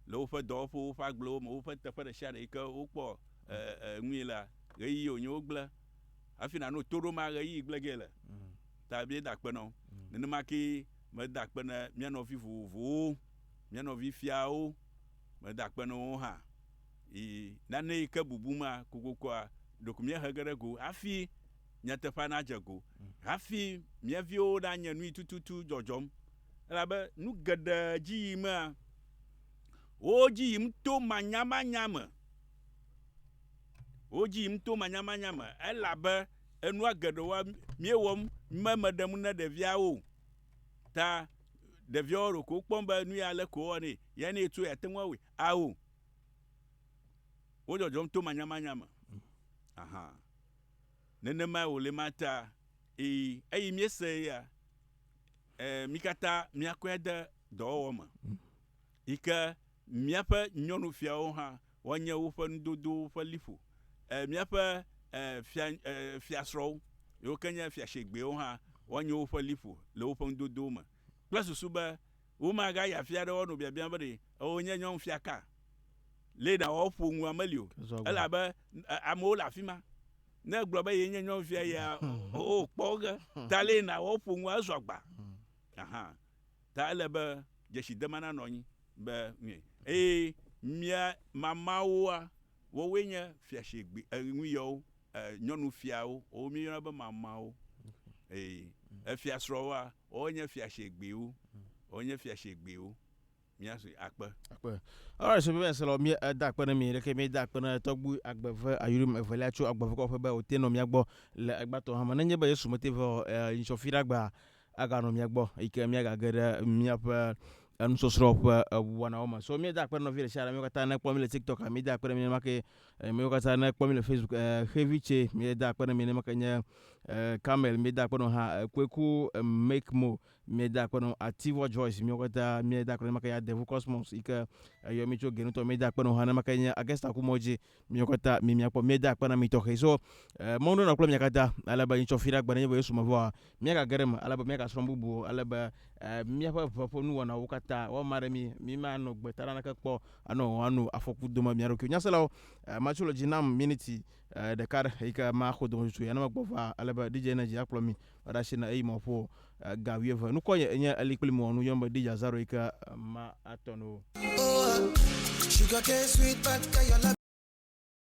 le woƒe dɔwɔƒewo, woƒe agblewo me, woƒe teƒe ɖe sia ɖe yi ke wokpɔ e, e, nui lea, ɣeyiɣi wònye wogblẽ. Hafi nàno to ɖo ma ɣeyiɣi gblẽ gee le. Ta míeda akpe na wo. Nenema kee meda akpe na mía nɔvi vovovowo, mía nɔvi fiawo, meda akpe na wo hã. Yi nane yi ke bubu ma kokokoa, ɖeko míehe ge ɖe go hafi nyateƒea nadze go, hafi mía viwo nanye nu yi tututu dzɔdzɔm. Elabe nu geɖe dzi yimea, wo dzi yim to manyamanya me. Wo dzi yim to manyamanya me, elabe enua geɖewoa, míewɔm me meɖe ŋu ne ɖeviawo o. Ta ɖeviawo ɖeko wokpɔm be nu ya leke wowɔnɛ, ya ne etsɔe, yeate ŋu awɔe? Ao. Wo dzɔdzɔm to manyamanya me. Aha. Nenemae wòle ma ta. Ii, eyi míese eya. E, mí katã míakɔe ade dɔwɔwɔ me. Yi ke míaƒe nyɔnufiawo hã woanye woƒe nudodowo ƒe liƒo. E, míaƒe e, fia, e, fiasrɔ̃wo, yiwo ke nye fiashegbɛwo hã woanye woƒe liƒo le woƒe nudodowo me. kple susu be womagayi afi aɖe woanɔ biabiam be ɖe ewɔe nye nyɔnufiaka lee nawɔ woƒo nua meli o, elabe amewo le afi ma. Ne egblɔ be yee nye nyɔnufia yea, oo, kpɔ ge ta lee nawɔ woƒo nua ezu agba. Aha, ta ele be dzesidema nanɔ anyi be nui. Eye mía mamawoa, woawoe nye fiasegbe, e, nuyɔwo, e, nyɔnufiawo, wowo míeyɔna be mamawo. Eye efiasrɔ̃woa, Ɔɔ nye fiashegbeo, ɔɔ nye fiashegbeo, mía sue akpe. Akpe. Alright, so bebe se lɔ mi da akpe ne mi ɖeke mi da akpe ne tɔgbu agbeve ayurim evelia tso agbeve kɔƒe be o te nɔ mia gbɔ le egbatɔ hame ne nye be Yesu mete ve o e ŋtsɔ fi ɖa gbea aga nɔ mia gbɔ yi ke mia ga ge ɖe mia ƒe enusɔsrɔ ƒe eŋuwanawo me. So mi da akpe nɔvi ɖe sia ɖe mi katã ne kpɔ mi le tiktok mi da akpe ne mi ne ma ke Miwo katã ne kpɔ mi le Facebook eh, xevi tse mi da akpe ne mi ne make nye eh, Camel mi da akpe no ha eh, Kweku eh, Make Mo mi da akpe no Ativɔ Joyce miwo katã mi da akpe ne make ya Devu Cosmos yi ke eyɔ eh, mi tso Genutɔ mi da akpe no ha ne make nye Agesta Kumodzi miwo katã mi mia kpɔ mi da akpe na mi tɔxɛ so eh, mɔnu na kple mi katã ale be nyi tsɔ fi ɖe agbe ne nye be Yesu me vɔa Míagage ɖe eme ale be míagasrɔ̃ bubu o, ale be míaƒe ʋe ƒe nuwɔnawo katã woama ɖe mí, mímanɔ gbe ta naneke kpɔ anɔ o, ano afɔku dome mía ɖokuiwo. Nyaselawo, matso le dzi nam miniti ɖeka ɖe eyi ke maxɔ dometso ya ne megbɔ va ale be DJ Energy akplɔ mí va ɖe asi na eyi mɔ ƒo ga wuieve. Nukɔ nye enye eli kpli mɔ nu yɔm be DJ Azaro yi ke ma atɔ no.